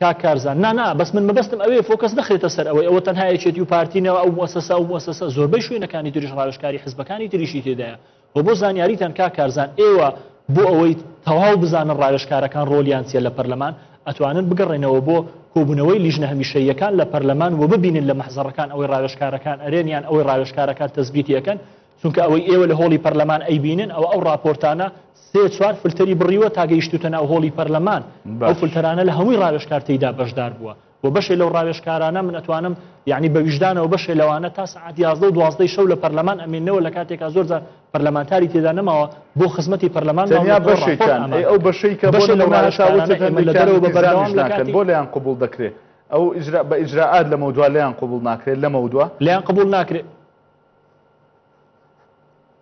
[SPEAKER 2] کاک کارزان نا نا بەس من مەبەستم ئەوەیە فۆکەس نەخرێتە سەر ئەوەی ئەوە تەنها یەکێتی و پارتی نەوە ئەو موسەسە ئەو موسەسە زۆربەی شوێنەکانی تریش ڕاوێژکاری حزبەکانی تریشی تێدایە و بۆ زانیاریتان کاک کارزان ئێوە بۆ ئەوەی تەواو بزانن ڕاوێژکارەکان ڕۆلیان چیە لە پەرلەمان ئەتوانن بگەڕێنەوە بۆ کۆبوونەوەی لیژنە هەمیشەییەکان لە پەرلەمان و ببینن لە مەحزەڕەکان ئەوەی ڕاوێژکارەکان ئەرێن یان ئەوەی ڕاوێژکارەکان تەسبیتی ئەکەن چونکە ئەوەی ئێوە لە هۆڵی پەرلەمان ئەیبینن ئەوە ئەو ڕاپۆرتانە سێ چوار فلتەری بڕیوە تا گەیشتوتە ناو هۆڵی پەرلەمان ئەو باش فلتەرانە لە هەمووی ڕاوێژکار تێیدا بەشدار بووە و بەشێ لەو ڕاوێژکارانە من ئەتوانم یعنی بە ویژدانەوە بەشێ لەوانە تا سەعات یازدە و دوازدەی شەو لە پەرلەمان ئەمێننەوە لە کاتێکا زۆر جار پەرلەمانتاری تێدا نەماوە بۆ خزمەتی پەرلەمان تەنیا ماونەتەوە ڕاپۆرت بەشێکیان ئەی ئامادە
[SPEAKER 1] ئەو دەکەن بەشەی کە بۆ بەشێ لەو نمونە تا ڕاوێژکارانە وتت ئێمە لە هەندێکیان دەرەوە بە ئیلزامیش بەردەوام لە ناکەن کاتی بۆ لێیان قبوڵ دەکرێ ئەو ئیجرا بە ئیجرائات لەمەودوا لێیان قبوڵ ناکرێت لەمەودوا؟
[SPEAKER 2] لێیان
[SPEAKER 1] قبوڵ ناکرێ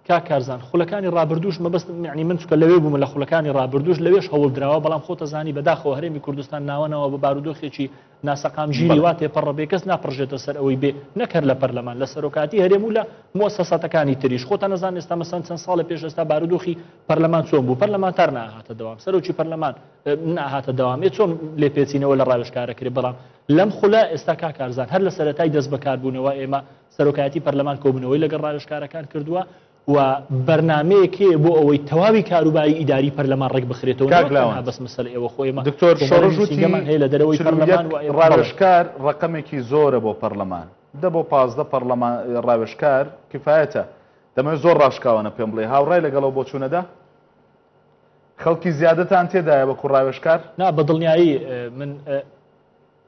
[SPEAKER 1] کاک
[SPEAKER 2] کارزان خولەکانی ڕابردوش مەبەستم یعنی من چکە لەوێ بوومە لە خولەکانی ڕابردوش لەوێش هەوڵ دراوە بەڵام خۆتە زانی بەداخەوە هەرێمی کوردستان ناوەنەوە بە بارودۆخێکی ناسەقام ژیری وا تێپەڕە بێ کەس ناپڕژێتە سەر ئەوەی بێ نەکەر لە پەرلەمان لە سەرۆکاتی هەرێم و لە مۆسەساتەکانی تریش خۆتە نەزان ئێستا مەسەن چەند ساڵە پێش ئێستا بارودۆخی پەرلەمان چۆن بوو پەرلەمان تار ناهاتە دەوام سەرۆکی پەرلەمان ناهاتە دەوامێ چۆن لێپێچینەوە لە ڕاوێشکارەکرێ بەڵام لەم خولە ئێستا کا کارزان هەر لە سەرەتای دەست بەکاربوونەوە ئێمە سەرۆکایەتی پەرلەمان کۆبوونەوەی لەگەڵ ڕاوێژکارەکان کردووە و بەرنامەیەک هەیە بۆ ئەوەی تەواوی کاروباری ئیداری پەرلەمان ڕێکبخرێتەوە کاک لاوەند نەک تەنها بەس مەسەلە ئێوە خۆ ئێمە دکتۆر کۆمەڵێ شۆڕش وتی نووسینگەمان
[SPEAKER 1] هەیە لە دەرەوەی چل و پەرلەمان یەک
[SPEAKER 2] و ئێوە بەڵێ ڕاوێژکار
[SPEAKER 1] ڕەقەمێکی زۆرە بۆ پەڕلەمان دە بۆ پازدە پەڕلەمان ڕاوێژکار کفایەتە دەمەوێت زۆر ڕاشکاوانە پێم بڵێ هاوڕای لەگەڵ ئەو بۆچوونەدا خەڵکی زیادتان تێدایە وەکو ڕاوێژکار؟ نا بە دڵنیایی
[SPEAKER 2] من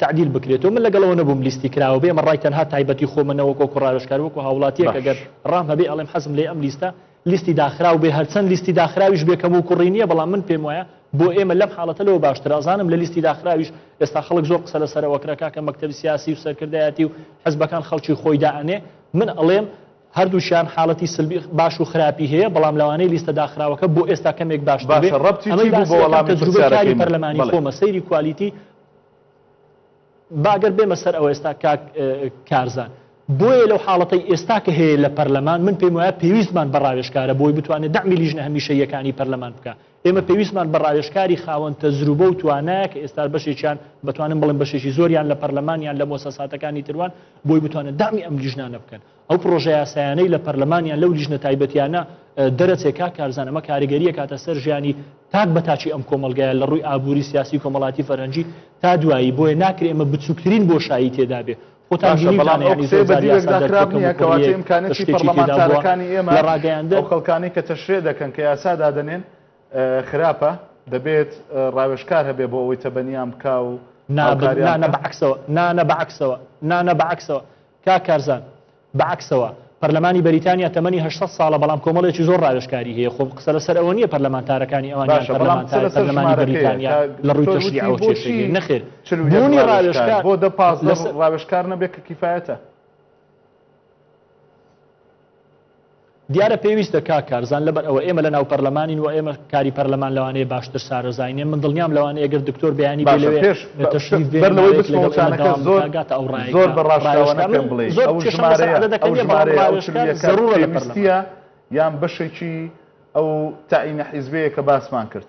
[SPEAKER 2] تەعدیل بکرێتەوە من لەگەڵەوە نەبووم لیستی کراوە بێ ئەمە ڕای تەنها تایبەتی خۆمە نەوەک وەکو ڕاوێژکار وەکو هاوڵاتیەک ئەگەر باش ڕام هەبێ ئەڵێم حەزم لێ ئەم لیستە لیستی داخراو بێ هەرچەند لیستی داخراویش بێ کەموو کوڕی نییە بەڵام من پێم وایە بۆ ئێمە لەم حاڵەتە لەوە باشترە ئەزانم لە لیستی داخراویش ئێستا خەڵک زۆر قسە لەسەرەوە کرا کاکە مەکتەبی سیاسی و سەرکردایەتی و حزبەکان خەڵکی خۆی دائەنێ من ئەڵێم هەردووشیان حاڵەتی سلبی باش و خراپی هەیە بەڵام لەوانەیە لیستە داخراوەکە بۆ ئێستا کەمێک باشتر بێ باشە ڕەبتی ئەمەی چی بوو بە باسەکەم وەڵامی تەجروبەی پرسیارەکەی کاری من پەرلەمانی بەڵێ خۆمە سەیری کوالیتی باگەر بێمە سەر ئەوە ئێستا کاک کارزان بۆیە لەو حاڵەتی ئێستا کە هەیە لە پەرلەمان من پێم وایە پێویستمان بە ڕاوێشکارە بۆی بتوانێت دەمی لیژنە هەمیشە یەکانی پەرلەمان بکە ئێمە پێویستمان بە ڕاوێشکاری خاوەن تەزروبە و توانایە کە ئێستا بەشێکیان بتوانم بڵم بەشێکی زۆریان لە پەرلەمانیان لە مۆسەساتەکانی تروان بۆی بتوانن دامی ئەم لیژنانە بکەن ئەو پڕۆژە یاسایانەی لە پەرلەمان یان لەو لیژنە تایبەتیانە دەرەچێ کا کارزان ئەمە کاریگەریە کاتە سەر ژیانی تاک بە تاچی ئەم کۆمەلگایە لە ڕووی ئابووری سیاسی کۆمەڵاتی فەرەنجی تا دوایی بۆیە ناکرێ ئمە بچووکترین بۆشایی تێدا بێ
[SPEAKER 1] لە ڕاگەیاندە خەڵکانی کە تەشرێ دەکەن کە یاسا دادنێن خراپە دەبێت ڕاوێشکار هەبێ بۆ ئەوەی تەبەنیان بکە و نابنانە بەعکسەوە نانە
[SPEAKER 2] بەعکسەوە نانە بەعکسەوە کاک کارزان، بە عەکسەوە، پەرلەمانی بەریتانیا تەمەنی هەشت سەد ساڵە بەڵام کۆمەڵێکی زۆر ڕاوێژکاری هەیە، خۆ قسە لەسەر ئەوە نییە پەرلەمانتارەکانی ئەوان یان پەرلەمانتاری پەرلەمانی بەریتانیا لە ڕووی تەشریعەوە کێشەی هەیە، نەخێر بوونی ڕاوێژکار
[SPEAKER 1] لەسەر.
[SPEAKER 2] دیارە پێویستە کاک کارزان لەبەر ئەوە ئێمە لە ناو پەرلەمانین و ئێمە کاری پەرلەمان لەوانەیە باشتر شارەزاینێ من دڵنیام لەوانەیە گەر دکتۆر بەیانی بێ لەوێ تەشریف بێ ماوەیەک لەگەڵ ئێمە
[SPEAKER 1] دەوام بکا گاتە ئەو ڕایەکە زۆر بە ڕاشکاوە نەکەم بڵێ زۆر کێشەم لەسەر عەدەدەکە نیە بەڵام ڕاوێژکار ئەو ژمارەیە ئەو چل و یەکە پێویستیە یان بەشێکی ئەو تەعینە حیزبەیە کە باسمان کرد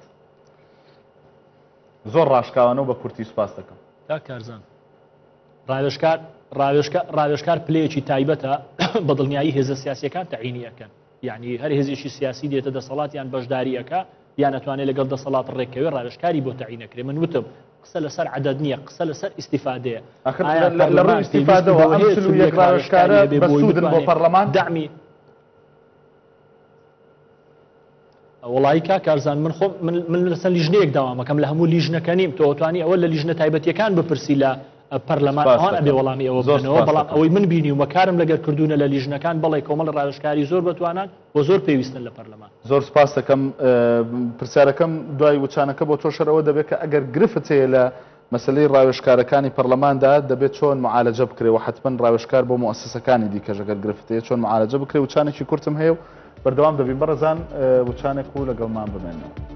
[SPEAKER 1] زۆر ڕاشکاوانە و بە کورتی سوپاس دەکەم کاک کارزان.
[SPEAKER 2] ڕاوێژکار ڕاوێژکار ڕاوێژکار پلەیەکی تایبەتە بە دڵنیایی هێزە سیاسەکان تەعینی ئەەکەن یعنی هەر هێزێکی سیاسی دێتە دەسەڵات یان بەشداریەکە یان ئەتوانێت لەگەڵ دەسەڵات ڕێکەوە ڕاوێژکاری بۆ تەعینەکرێ من وتم قسە لەسەر عدد نییە قسە لەسەر ئیسیفادەیە لە
[SPEAKER 1] ڕێ ئیسیفادەوە ئەم ڕاوێژکارە بە سوودن بۆ پەرلەمان دامی
[SPEAKER 2] وڵایی کا کارزان من خۆ من لەسەر لیژنەیەک داوامەکەم لە هەموو لیژنەکە نیم تۆتوانی ئەوە لە لیژنە تایبەتیەکان بپرسی لە پەرلەمان ئەوان ئەبێ وەڵامی ئەوە بزنەوە بەڵام ئەوەی من بینی ومە کارم لەگەر کردوونە لە لیژنەکان بەڵێ کۆمەڵ ڕاوشکاری زۆر بتوانان بۆ زۆر پێویستن لە پەرلەمان زۆر سپاس دەکەم
[SPEAKER 1] پرسیارەکەم دوای وچانەکە بۆ تۆشەرەوە دەبێت کە ئەگەر گرفت هەیە لە مەسەلەی ڕاوێژکارەکانی پەرلەماندا دەبێت چۆن معالەجە بکرێ و حەتمەن ڕاوێژکار بۆ موئەسەسەکانی دیکەش ئەگەر گرفت هەیە چۆن معالەجە بکرێ وچانێکی کورتم هەیە و بەردەوام دەبین بەڕێزان وچانێک و لەگەڵمان بمێنەوە.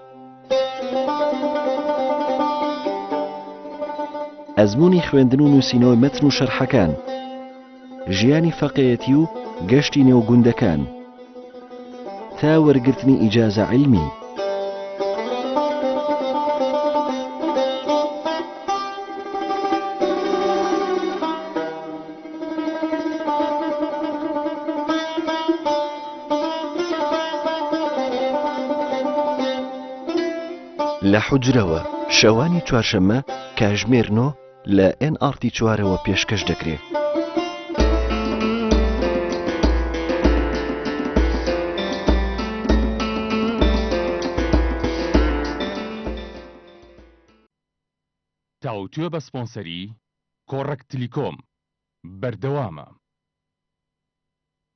[SPEAKER 4] ئەزموونی خوێندن و نووسینەوەی مەتن و شەرحەکان ژیانی فەقێەتی و گەشتی نێو گوندەکان تا وەرگرتنی ئیجازە علمی لە حوجرەوە، شەوانی چوارشەممە کاژمێر نۆ لە ئێن ئاڕتی چوارەوە پێشکەش دەکرێ.
[SPEAKER 5] تاوتوێ بە سپۆنسەری، کۆڕەک تلیکۆم، بەردەوامە.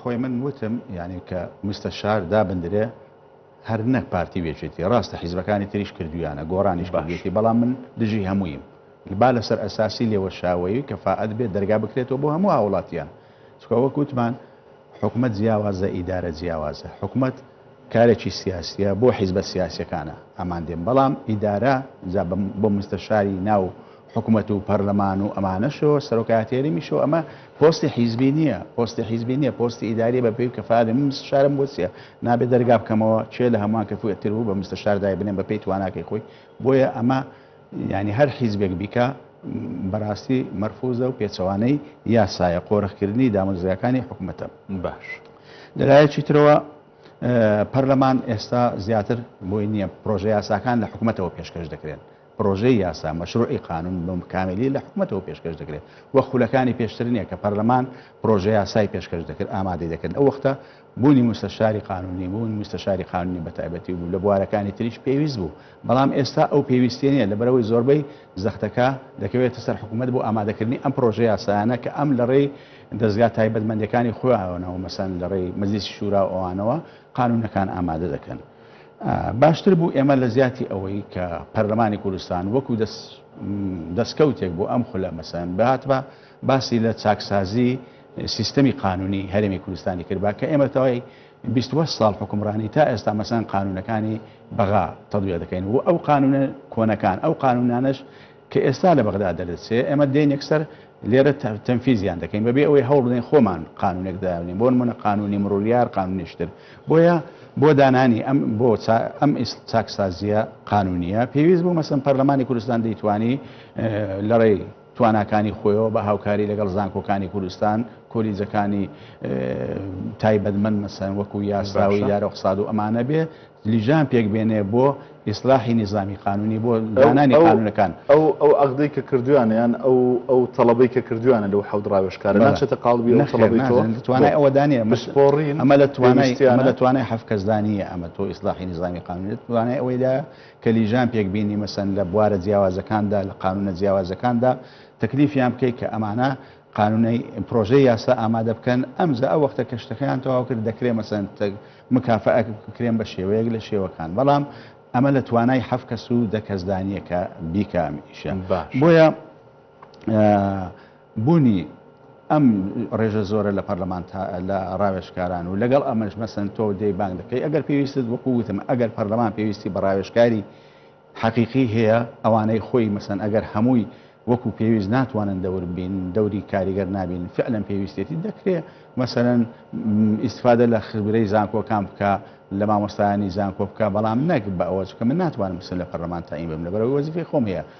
[SPEAKER 1] خۆی من
[SPEAKER 3] وتم یعنی کە مستەشار دابندرێ هەر نەک پارتی وێچێتی ڕاستە حیزبەکانی تریش کردویانە گۆڕانیش باشێتی بەڵام من دژی هەموویم با لەسەر ئەساسی لێوەشاوەیی کە فعات بێت دەرگا بکرێتەوە بۆ هەموو هاوڵاتیان چکەوە کووتمان حکومت جیاوازە ئیدارە جیاوازە حکومت کارێکی سیاسیە بۆ حیزبە سیاسیەکانە ئەمان دێن بەڵام ئیدارە جا بۆ مستەشاری ناو حکومەت و پەرلەمان و ئەمانەشەوە سەرۆکایەتی هەرێمیشەوە ئەمە پۆستی حیزبی نیە پۆستی حیزبی نیە پۆستی ئیداریە بە پێی کەفاێ من مستشارم بۆ چیە نابێ دەرگا بکەمەوە کێ لە هەمووان کەفوێتر بوو بە مستەشار دای بنێم بە پێی تواناکەی خۆی بۆیە ئەمە یانی هەر حیزبێک بیکا بەراستی مەرفوزە و پێچەوانەی یاسایە قۆرخکردنی دامەزراوەکانی حکومەتە باش لەلایەکی ترەوە پەرلەمان ئێستا زیاتر بۆی نییە پرۆژە یاساکان لە حکوومەتەوە پێشکەش دەکرێن پرۆژەی یاسا مەشروعی قانون بەم کاملی لە حکوومەتەوە پێشکەش دەکرێت و خولەکانی پێشتر نیە کە پەرلەمان پرۆژە یاسای پێشکەش دەکرد ئامادەی دەکرد ئەو وەختە بوونی موستەشاری قانوونی بوون، موستەشاری قانوونی بەتایبەتی بوو، لە بوارەکانی تریش پێویست بوو، بەڵام ئێستا ئەو پێویستییە نییە، لەبەرئەوەی زۆربەی زەختەکە دەکەوێتە سەر حکوومەت بۆ ئامادەکردنی ئەم پڕۆژەیاسایانە کە ئەم لەڕێی دەزگا تایبەتمەندەکانی خۆیانەوە، مەسەلەن لەڕێی مەجلیسی شورا و ئەوانەوە قانوونەکان ئامادە دەکەن. باشتر بوو ئێمە لە جیاتی ئەوەی کە پەرلەمانی کوردستان وەکوو دەستکەوتێک بۆ ئەم خولە مەسەلەن بهاتبا باسی لە چاکسازیی، سیستەمی قانونی هەرێمی کوردستانی کرد بە کە ئێمە تەوای بیست و هەشت ساڵ حوکمڕانی تا ئێستا مەسەن قانونەکانی بەغا تەدوێ دەکەین و ئەو قانونە کۆنەکان ئەو قانونانەش کە ئێستا لە بەغدا دەردەچێ ئێمە دێن یەکسەر لێرە تەنفیزیان دەکەین بەبێ ئەوەی هەوڵ بدەین خۆمان قانونێک دابنین بۆ نمونە قانونی مڕوریار قانونیشتر بۆیە بۆ دانانی ئەم بۆ ئەم چاکسازیە قانونیە پێویست بوو مەسم پەرلەمانی کوردستان دەیتوانی لەڕێی تواناکانی خۆیەوە بە هاوکاری لەگەڵ زانکۆکانی کوردستان، کۆلیجەکانی تایبەتمەند مەسەن وەکو یاسا و ئیدارە و اقتصاد و ئەمانە بێ لیژان پێک بێنێ بۆ ئیسلاحی نیزامی قانونی بۆ دانانی قانونەکان. ئەو ئەو عەقدەی
[SPEAKER 1] کە کردویانە یان ئەو ئەو تەڵەبەی کە کردویانە لەو حەوت ڕاوێژکارە ناچێتە قاڵبی ئەو تەڵەبەی تۆ؟ نەخێر ناچێت توانای ئەوە دا نیە
[SPEAKER 3] بسپۆڕین ئەمە لە توانای ئەمە لە توانای حەفکەس دا نیە ئەمە تۆ ئیسلاحی نیزامی قانونی توانای ئەوەی دا تەلیژان پێک بینی مەسەن لە بوارە جیاوازەکاندا لە قانونە جیاوازەکاندا تەکلیفیان بکەی کە ئەمانە قانونەی پرۆژەی یاسا ئامادە بکەن ئەمجا ئەو وەختە کە شتەکەیان تەواو کرد دەکرێ مەسەن مکافەئەک بکرێن بە شێوەیەک لە شێوەکان بەڵام ئەمە لە توانای حەف کەس و دە کەسدانیە کە بیکامیشە بۆیە بونی ئەم ڕێژە زۆرە لە پەرلەمان لە ڕاوێژکاران و لەگەڵ ئەمەش مەسن تۆ دەی بانگ دەکەی ئەگەر پێویستت وەکو وتم ئەگەر پەرلەمان پێویستی بە ڕاوێژکاری حەقیقی هەیە ئەوانەی خۆی مەسن ئەگەر هەمووی وەکو پێویست ناتوانن دەور بین دەوری کاریگەر نابین فعلەن پێویستێتی دەکرێ مەسەرەن ئیسفادە لە خبرەی زانکۆکان بکە لە مامۆستایانی زانکۆ بکە بەڵام نەک بە ئەوە چکە من ناتوانم سن لە پەرلەمان تایم بم لە بەرەوەی وەزیفی خۆم هەیە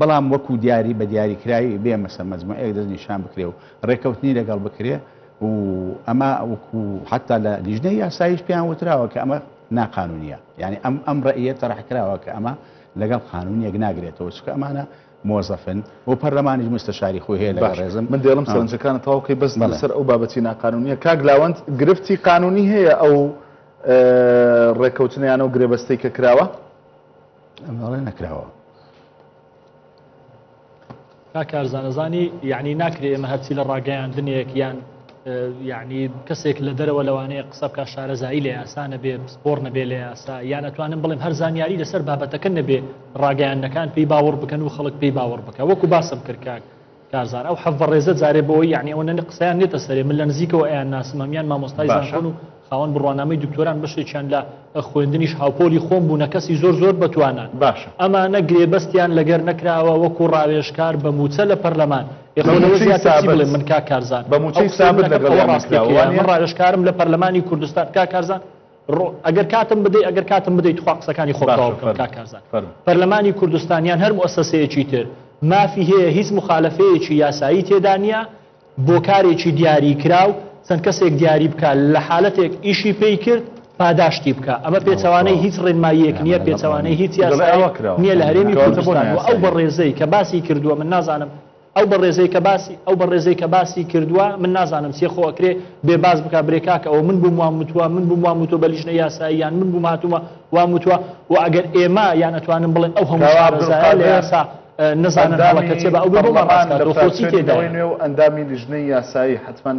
[SPEAKER 3] بەڵام وەکو دیاری بە دیاریکراوی بێ مەسە مەجموعەیەک دەست نیشان بکرێ و ڕێکەوتنی لەگەڵ بکرێ و ئەمە وەکو حەتا لە لیژنەی یاساییش پێیان وتراوە کە ئەمە ناقانونیە یعنی ئەم ئەم ڕئیە تەرح کراوە کە ئەمە لەگەڵ قانون یەک ناگرێتەوە چکە ئەمانە مۆزەفن و پەرلەمانیش مستەشاری خۆی هەیە لە ڕێزم من دێڵم سەرنجەکانە
[SPEAKER 1] تاوکەی بەس لەسەر ئەو بابەتی ناقانونیە کاک لاوەند گرفتی قانونی هەیە ئەو ڕێکەوتنیانە و گرێبەستەی کە کراوە
[SPEAKER 3] ئەمەڵێ نەکراوە
[SPEAKER 2] کارزانەزانی یعنی ناکرێ ئێمە هەرچی لە ڕاگەیاندنێک یان یعنی کەسێک لە دەرەوە لەوانەیە قسە بکە شارەزایی لە یاسانە بێ پسپۆر نەبێ لە یاسا یان ئەتوانم بڵێم هەر زانیاری لەسەر بابەتەکە نەبێ ڕاگەیانەکان پێی باوەڕ بکەن و خەڵک پێی باوەڕ بکە وەکو باسم کردکات کارزان ئەو حەڤە ڕێزە جارێ بەوەی یعنی ئەوە نەنە قسەیان نێتە سەرێ من لە نزیکەوە ئەیان ناسم ئەمیان مامۆستای زانکۆن و خاوەن بڕوانامەی دکتۆران بەشێکیان لە خوێندنیش هاوپۆلی خۆم بوونە کەسی زۆر زۆر بەتوانان باشە ئەمانە
[SPEAKER 1] گرێبەستیان
[SPEAKER 2] لەگەر نەکراوە وەکو ڕاوێژکار بە موچە لە پەرلەمان بڵێ من کا کارزان بە موچەی سابت لەگەڵ
[SPEAKER 1] ڕاستەکەیان ڕاوێژکارم
[SPEAKER 2] لە پەرلەمانی کوردستان کا کارزان ڕۆ ئەگەر کاتم بدەی ئەگەر کاتم بدەی تخوا قسەکانی خۆم تەواو بکەم کاک کارزان پەرلەمانی کوردستان یان هەر موسەسەیەکی تر مافی هەیە هیچ مخالفەیەکی یاسایی تێدا نییە بۆ کارێکی دیاری کراو چەند کەسێک دیاری بکە لە حالەتێک ئیشی پێی کرد پاداشتی بکە ئەمە پێچوانەی هیچ ڕێنماییەک نییە پێچوانەی هیچ یاساوە کرا نییە لە هەرێمی کوردستان ئەو بە ڕێزەی کە باسی کردووە من نازانم ئەو بەڕێزەی کە باسی ئەو بەڕێزەی کە باسی کردوە من نازانم چیە خۆ ئەکرێ بێ باس بکا برێ کاکە ئەوە من بووم وام وتوە من بووم وام وتوە بە لیژنەی یاسایی یان من بووم هاتوومە وام وتوە و ئەگەر ئێمە یان ئەتوانم بڵێن ئەو هەموو کاوا شارەزایە لە عەبدولقادر یاسا ئە، نەزانن هەڵە کە چێ بە ئەندامی ئەو بۆ بۆمان ڕاست پەرلەمان لە کات و خۆ چی فراکسیۆنی نەوەی تێدایە. نوێ و ئەندامی
[SPEAKER 1] لیژنەی یاسایی حەتمەن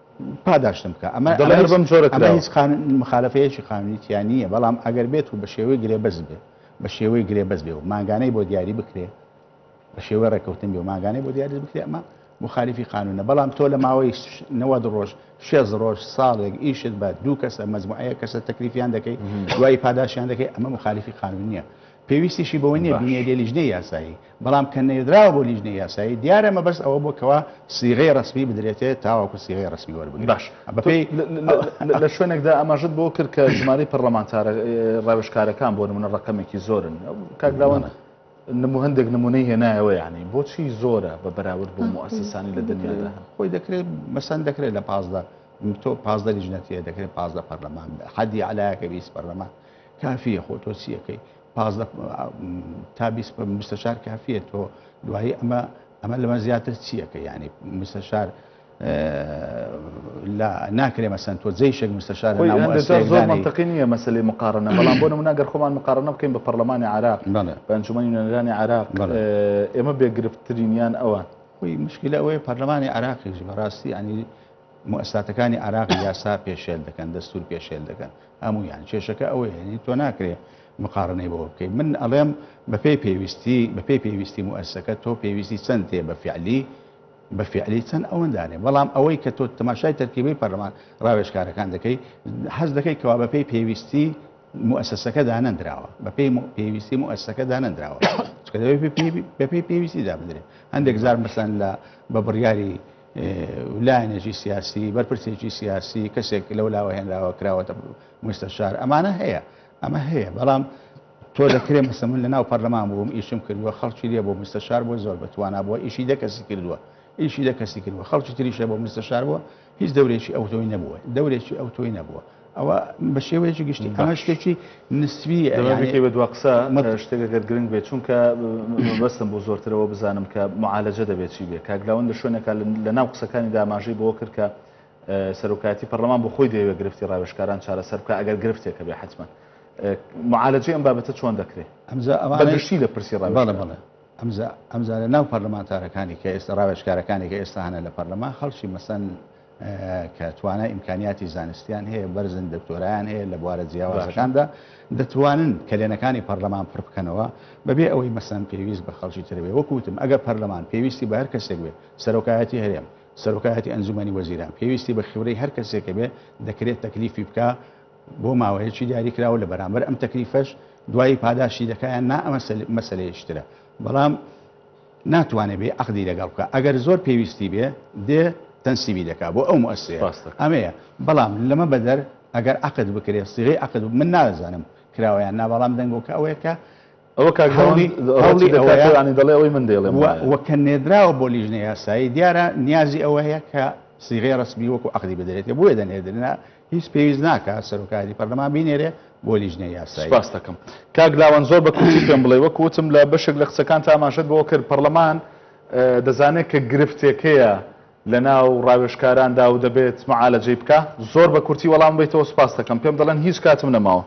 [SPEAKER 3] پاداشتم بکە ئەمە دەڵێر بەم جۆرە ئەمە هیچ مخالفەیەکی قانونیتیان نییە بەڵام ئەگەر بێت و بە شێوەی گرێبەز بێ بە شێوەی گرێبەز بێ و ماگانەی بۆ دیاری بکرێ بە شێوەی ڕێککەوتن بێ و ماگانەی بۆ دیاری بکرێ ئەمە مخالفی قانونە بەڵام تۆ لە ماوەی نەوە ڕۆژ شێز ڕۆژ ساڵێک ئیشت بە دوو کەسە مەزموعەیە کەسە تەکلیفیان دەکەی دوای پاداشیان دەکەی ئەمە مخالفی قانون نییە پێویستیشی بەوە نییە باش. بینێریە لیژنەی یاسایی، بەڵام کە نێردراوە بۆ لیژنەی یاسایی، دیارە مەبەست ئەوە بووە کەوا سیغەی ڕەسمی بدرێتێ تاوەکو سیغەی ڕەسمی وەربگرێ. باش. تۆ بەپێی
[SPEAKER 1] لە لە شوێنێکدا ئاماژەت بەوە کرد کە ژمارەی پەڕڵەمانتارە ڕاوێژکارەکان بۆ نموونە ڕەقەمێکی زۆرن. کاک لاوەند بەڵێ. نموو هەندێک نموونەی هێنایەوە یانی بۆچی زۆرە بە بەراورد بۆ موئەسەسانی لە دنیادا هەن؟ خۆی دەکرێ
[SPEAKER 3] مەسەن دەکرێ لە پازدە تۆ پازدە لیژنە تێ دەکرێ پازدە پەرلەمان حەدی ئەعلایەکە بیست پەرلەمان کافیە خۆ تۆ چیەکەی پازدە تا مستەشار کافیە تۆ دوایی ئەمە ئەمە لەمە زیاتر چیەکە ینی مستەشار لا ناکرێ مەسەن تۆ جێ شێک مستەشار زۆر منتەقی
[SPEAKER 1] نییە مەسلی مقارنە بەڵام بۆ منە گەر خۆمان مقارنە بکەین بە پەرلەمانی عراق بەنجومەنی نوێنەرانی عراق ئێمە بێگرفتترینیان ئەوان خۆی مشکلە ئەوەیە
[SPEAKER 3] پەرلەمانی عراقیش بەڕاستی ینی موئەسساتەکانی عێراق یاسا پێشێل دەکەن دەستور پێشێل دەکەن هەموویان کێشەکە ئەوەیە یەعنی تۆ ناکرێ مقاڕنەی بەوە بکەی من ئەڵێم بەپێی پێویستی بەپێی پێویستی موئەسسەکە تۆ پێویستی چەند تێ بە فیعلی بە فیعلی چەند ئەوەندانێ بەڵام ئەوەی کە تۆ تەماشای تەرکیبەی پەرلەمان ڕاوێژکارەکان دەکەی حەز دەکەی کەوا بەپێی پێویستی موئەسسەکە دانەندراوە بەپێی پێویستی موئەسسەکە دانەندراوە چکە دەبێت بەپێی پێویستی دابدرێت هەندێک جار مەسەن لە بە بڕیاری لایەنێکی سیاسی بەرپرسێکی سیاسی کەسێک لەو لاوە هێنراوە کراوەتە مستەشار ئەمانە هەیە ئەمە هەیە بەڵام تۆ دەکرێ مەسە من لە ناو پەرلەمان بووم ئیشم کردووە خەڵکی لێ بۆ مستەشار بۆ زۆر بەتوانە بووە ئیشی دە کەسی کردووە ئیشی دە کەسی کردووە خەڵکی تریشە بۆ مستەشار بووە هیچ دەورێکی ئەو تۆی نەبووە دەورێکی ئەو تۆی نەبووە ئەوە بە شێوەیەکی گشتی ئەمە شتێکی نسویە دەمەکەی بە دوا قسە
[SPEAKER 1] شتێکە گەر گرنگ بێت چونکە بەستم بۆ زۆرترەوە بزانم کە معالەجە دەبێت چی بێت کاگلاون لە شوێنەکە لە ناو قسەکانی داماژەی بۆ کرد کە سەرۆکایەتی پەرلەمان بۆ خۆی دەیەوێت گرفتی ڕاوێشکاران چارەسەر بکە ئەگەر گرفتێکە بێ حتممە معالەجی ئەم بابەتە چۆن دەکرێت ئەمزا ئەمانشتی لە پرسی ڕاوێڵە بڵێ ئەمزا ئەمزارە
[SPEAKER 3] ناو پەرلەمانتارەکانی کە ئێستا ڕاوێشکارەکانی کە ئێستا هەنە لە پەرلەمان خەڵکی مەسەن کە توانای ئیمکانیاتی زانستیان هەیە بەرزن دکتۆرایان هەیە لە بوارە جیاوازەکاندا دەتوانن کەلێنەکانی پەرلەمان پڕ بکەنەوە بەبێ ئەوەی مەسەن پێویست بە خەڵکی ترەوێ وەکوتم ئەگەر پەرلەمان پێویستی بە هەر کەسێک بێ سەرۆکایەتی هەرێم سەرۆکایەتی ئەنجومەنی وەزیران پێویستی بە خیورەی هەر کەسێکە بێ دەکرێت تەکلیفی بکە بۆ ماوەیەکی دیاری کراوە لە بەرامبەر ئەم تەکلیفەش دوایی پاداشتی دەکایان نا ئەمە مەسلەیەشترە بەڵام ناتوانێ بێ عەقدی لەگەڵ بکا ئەگەر زۆر پێویستی بێ دێ تەنسیبی دەکا بۆ ئەو موئەسسەیە ڕاستە ئەمەیە بەڵام لەمە بەدەر ئەگەر عەقد بکرێ سیغەی عەقد و من نازانم کراوە یان نا بەڵام دەنگۆکە ئەوەیە کە ئەوە کاک داوەن
[SPEAKER 1] ڕەتی دەکات و یانی دەڵێ ئەوەی من دەیڵێم وایە. و کە نێردراوە
[SPEAKER 3] بۆ لیژنەی یاسایی دیارە نیازی ئەوە هەیە کە سیغەی ڕەسمی وەکوو عەقدی بدرێتێ بۆیە دەنێردرێ هیچ پێویست ناکات سەرۆکایەتی پەرلەمان بینێرێ بۆ لیژنەی یاسایی. سپاست دەکەم کاک
[SPEAKER 1] لاوەند زۆر بە کورتی پێم بڵێ وەک وتم لە بەشێک لە قسەکانتا ئاماژەت بەوە کرد پەرلەمان دەزانێت کە گرفتێک هەیە لەناو ڕاوێژکاراندا و دەبێت معالەجەی بکا زۆر بە کورتی وەڵام بیتەوە سپاس دەکەم پێم دەڵێن هیچ کاتم نەماوە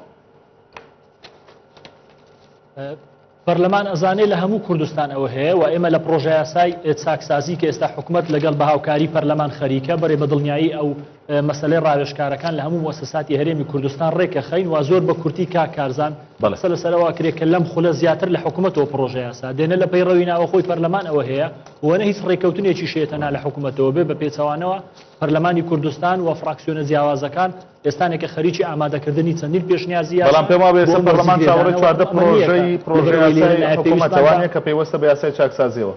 [SPEAKER 2] پەرلەمان ئەزانێ لە هەموو کوردستان ئەوە هەیە و ئێمە لە پڕۆژەیاسای چاکسازی کە ئێستا حکومەت لەگەڵ بە هاوکاری پەرلەمان خەریکە بەرێ بە دڵنیایی ئەو مەسەلەی ڕاوێژکارەکان لە هەموو موسساتی هەرێمی کوردستان ڕێکەخەین و زۆر بە کورتی کاک کارزان قسە لەسەر ئەوە کرێ کە لەم خولە زیاتر لە حکومەتەوە پڕۆژەیاسا دێ نە لە پەیڕەوی ناوەخۆی پەرلەمان ئەوە هەیە و نە هیچ ڕێککەوتنێکیش هەیە تەنها لە حکومەتەوە بێ بە پێچەوانەوە پەرلەمانی کوردستان و فڕاکسیۆنە جیاوازەکان ئێستانێکە خەریکی ئامادەکردنی چەندین پێشنیازی یاسا بەڵام پێم وابێ ئێستا بۆ
[SPEAKER 1] پەرلەمان چاوەڕێی چواردە وەرزی گرێدانەوە پڕۆژەی ئەمەنییەکە پڕۆژە لەبەرئەوەی لێرە یاسای لایە حکوومەتە پێویستمان بە وانییە کە پەیوەستە بە یاسای چاکسازییەوە؟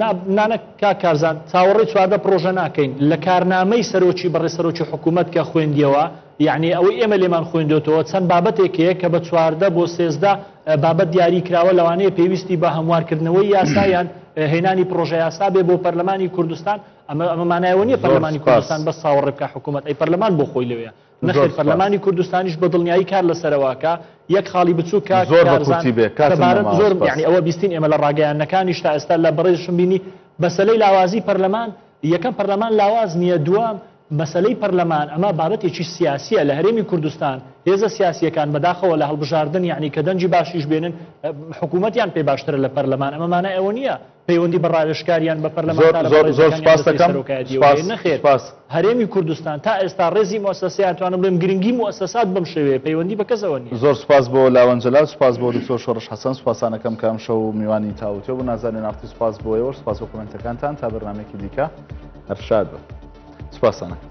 [SPEAKER 2] نا نانەک کاک کارزان چاوەڕێی چواردە پڕۆژە ناکەین لە کارنامەی سەرۆکی بەڕێز سەرۆکی حکوومەت کە خوێندییەوە یەعنی ئەوەی ئێمە لێمان خوێندۆتەوە چەند بابەتێک هەیە کە بە چواردە بۆ سێزدە بابەت دیاری کراوە لەوانەیە پێویستی بە هەموارکردنەوەی یاسا یان هێنانی پڕۆژە یاسا بێ بۆ پەرلەمانی کوردستان ئەمە ئەمە مانای ئەوە نییە پەرلەمانی کوردستان بەس چاوەڕێ بکا حکوومەت ئەی پەرلەمان بۆ خۆی لەوەیە نەخێر پەرلەمانی کوردستانیش بە دڵنیایی کار لەسەرەوەکە یەک خاڵی بچوو کە زۆر بەکورتی بێ کارزانم زۆر یعنی ئەوە بیستین ئێمە لە ڕاگەیاندنەکانیش تا ئێستا لە بەڕێزشم بینی بەسەلەی لاوازی پەرلەمان یەکەم پەرلەمان لاواز نییە دووەم مەسلەی پەرلەمان ئەمە بابەتێکی سیاسیە لە هەرێمی کوردستان هێزە سیاسیەکان بەداخەوە لە هەڵبژاردن یعنی کە دەنجی باشیش بێنن حکوومەتیان پێ باشترە لە پەرلەمان ئەمە مانای ئەوە نییە پەیوەندی بە ڕاوێژکار یان بە پەرلەمانتارە بەڕێزەکانیان
[SPEAKER 1] دەستەی سەرۆکایەتی
[SPEAKER 2] بکەین، نەخێر هەرێمی کوردستان تا ئێستا ڕێزی موسسەسە ئەتوانم بڵێم گرنگی موسسات بەم شێوەیە پەیوەندی بە کەسەوە نییە. زۆر سوپاس بۆ لاوەند
[SPEAKER 1] جەلال، سوپاس بۆ دکتۆر شۆڕش حەسەن، سوپاسانەکەم کە ئەمشەو میوانی تاووتوێ بوون، نازەنین ئاقتی سوپاس بۆ ئێوەش، سوپاس بۆ کۆمێنتەکانتان، تا بەرنامەیەکی دیکە هەر شاد بن. سوپاسانەکەم.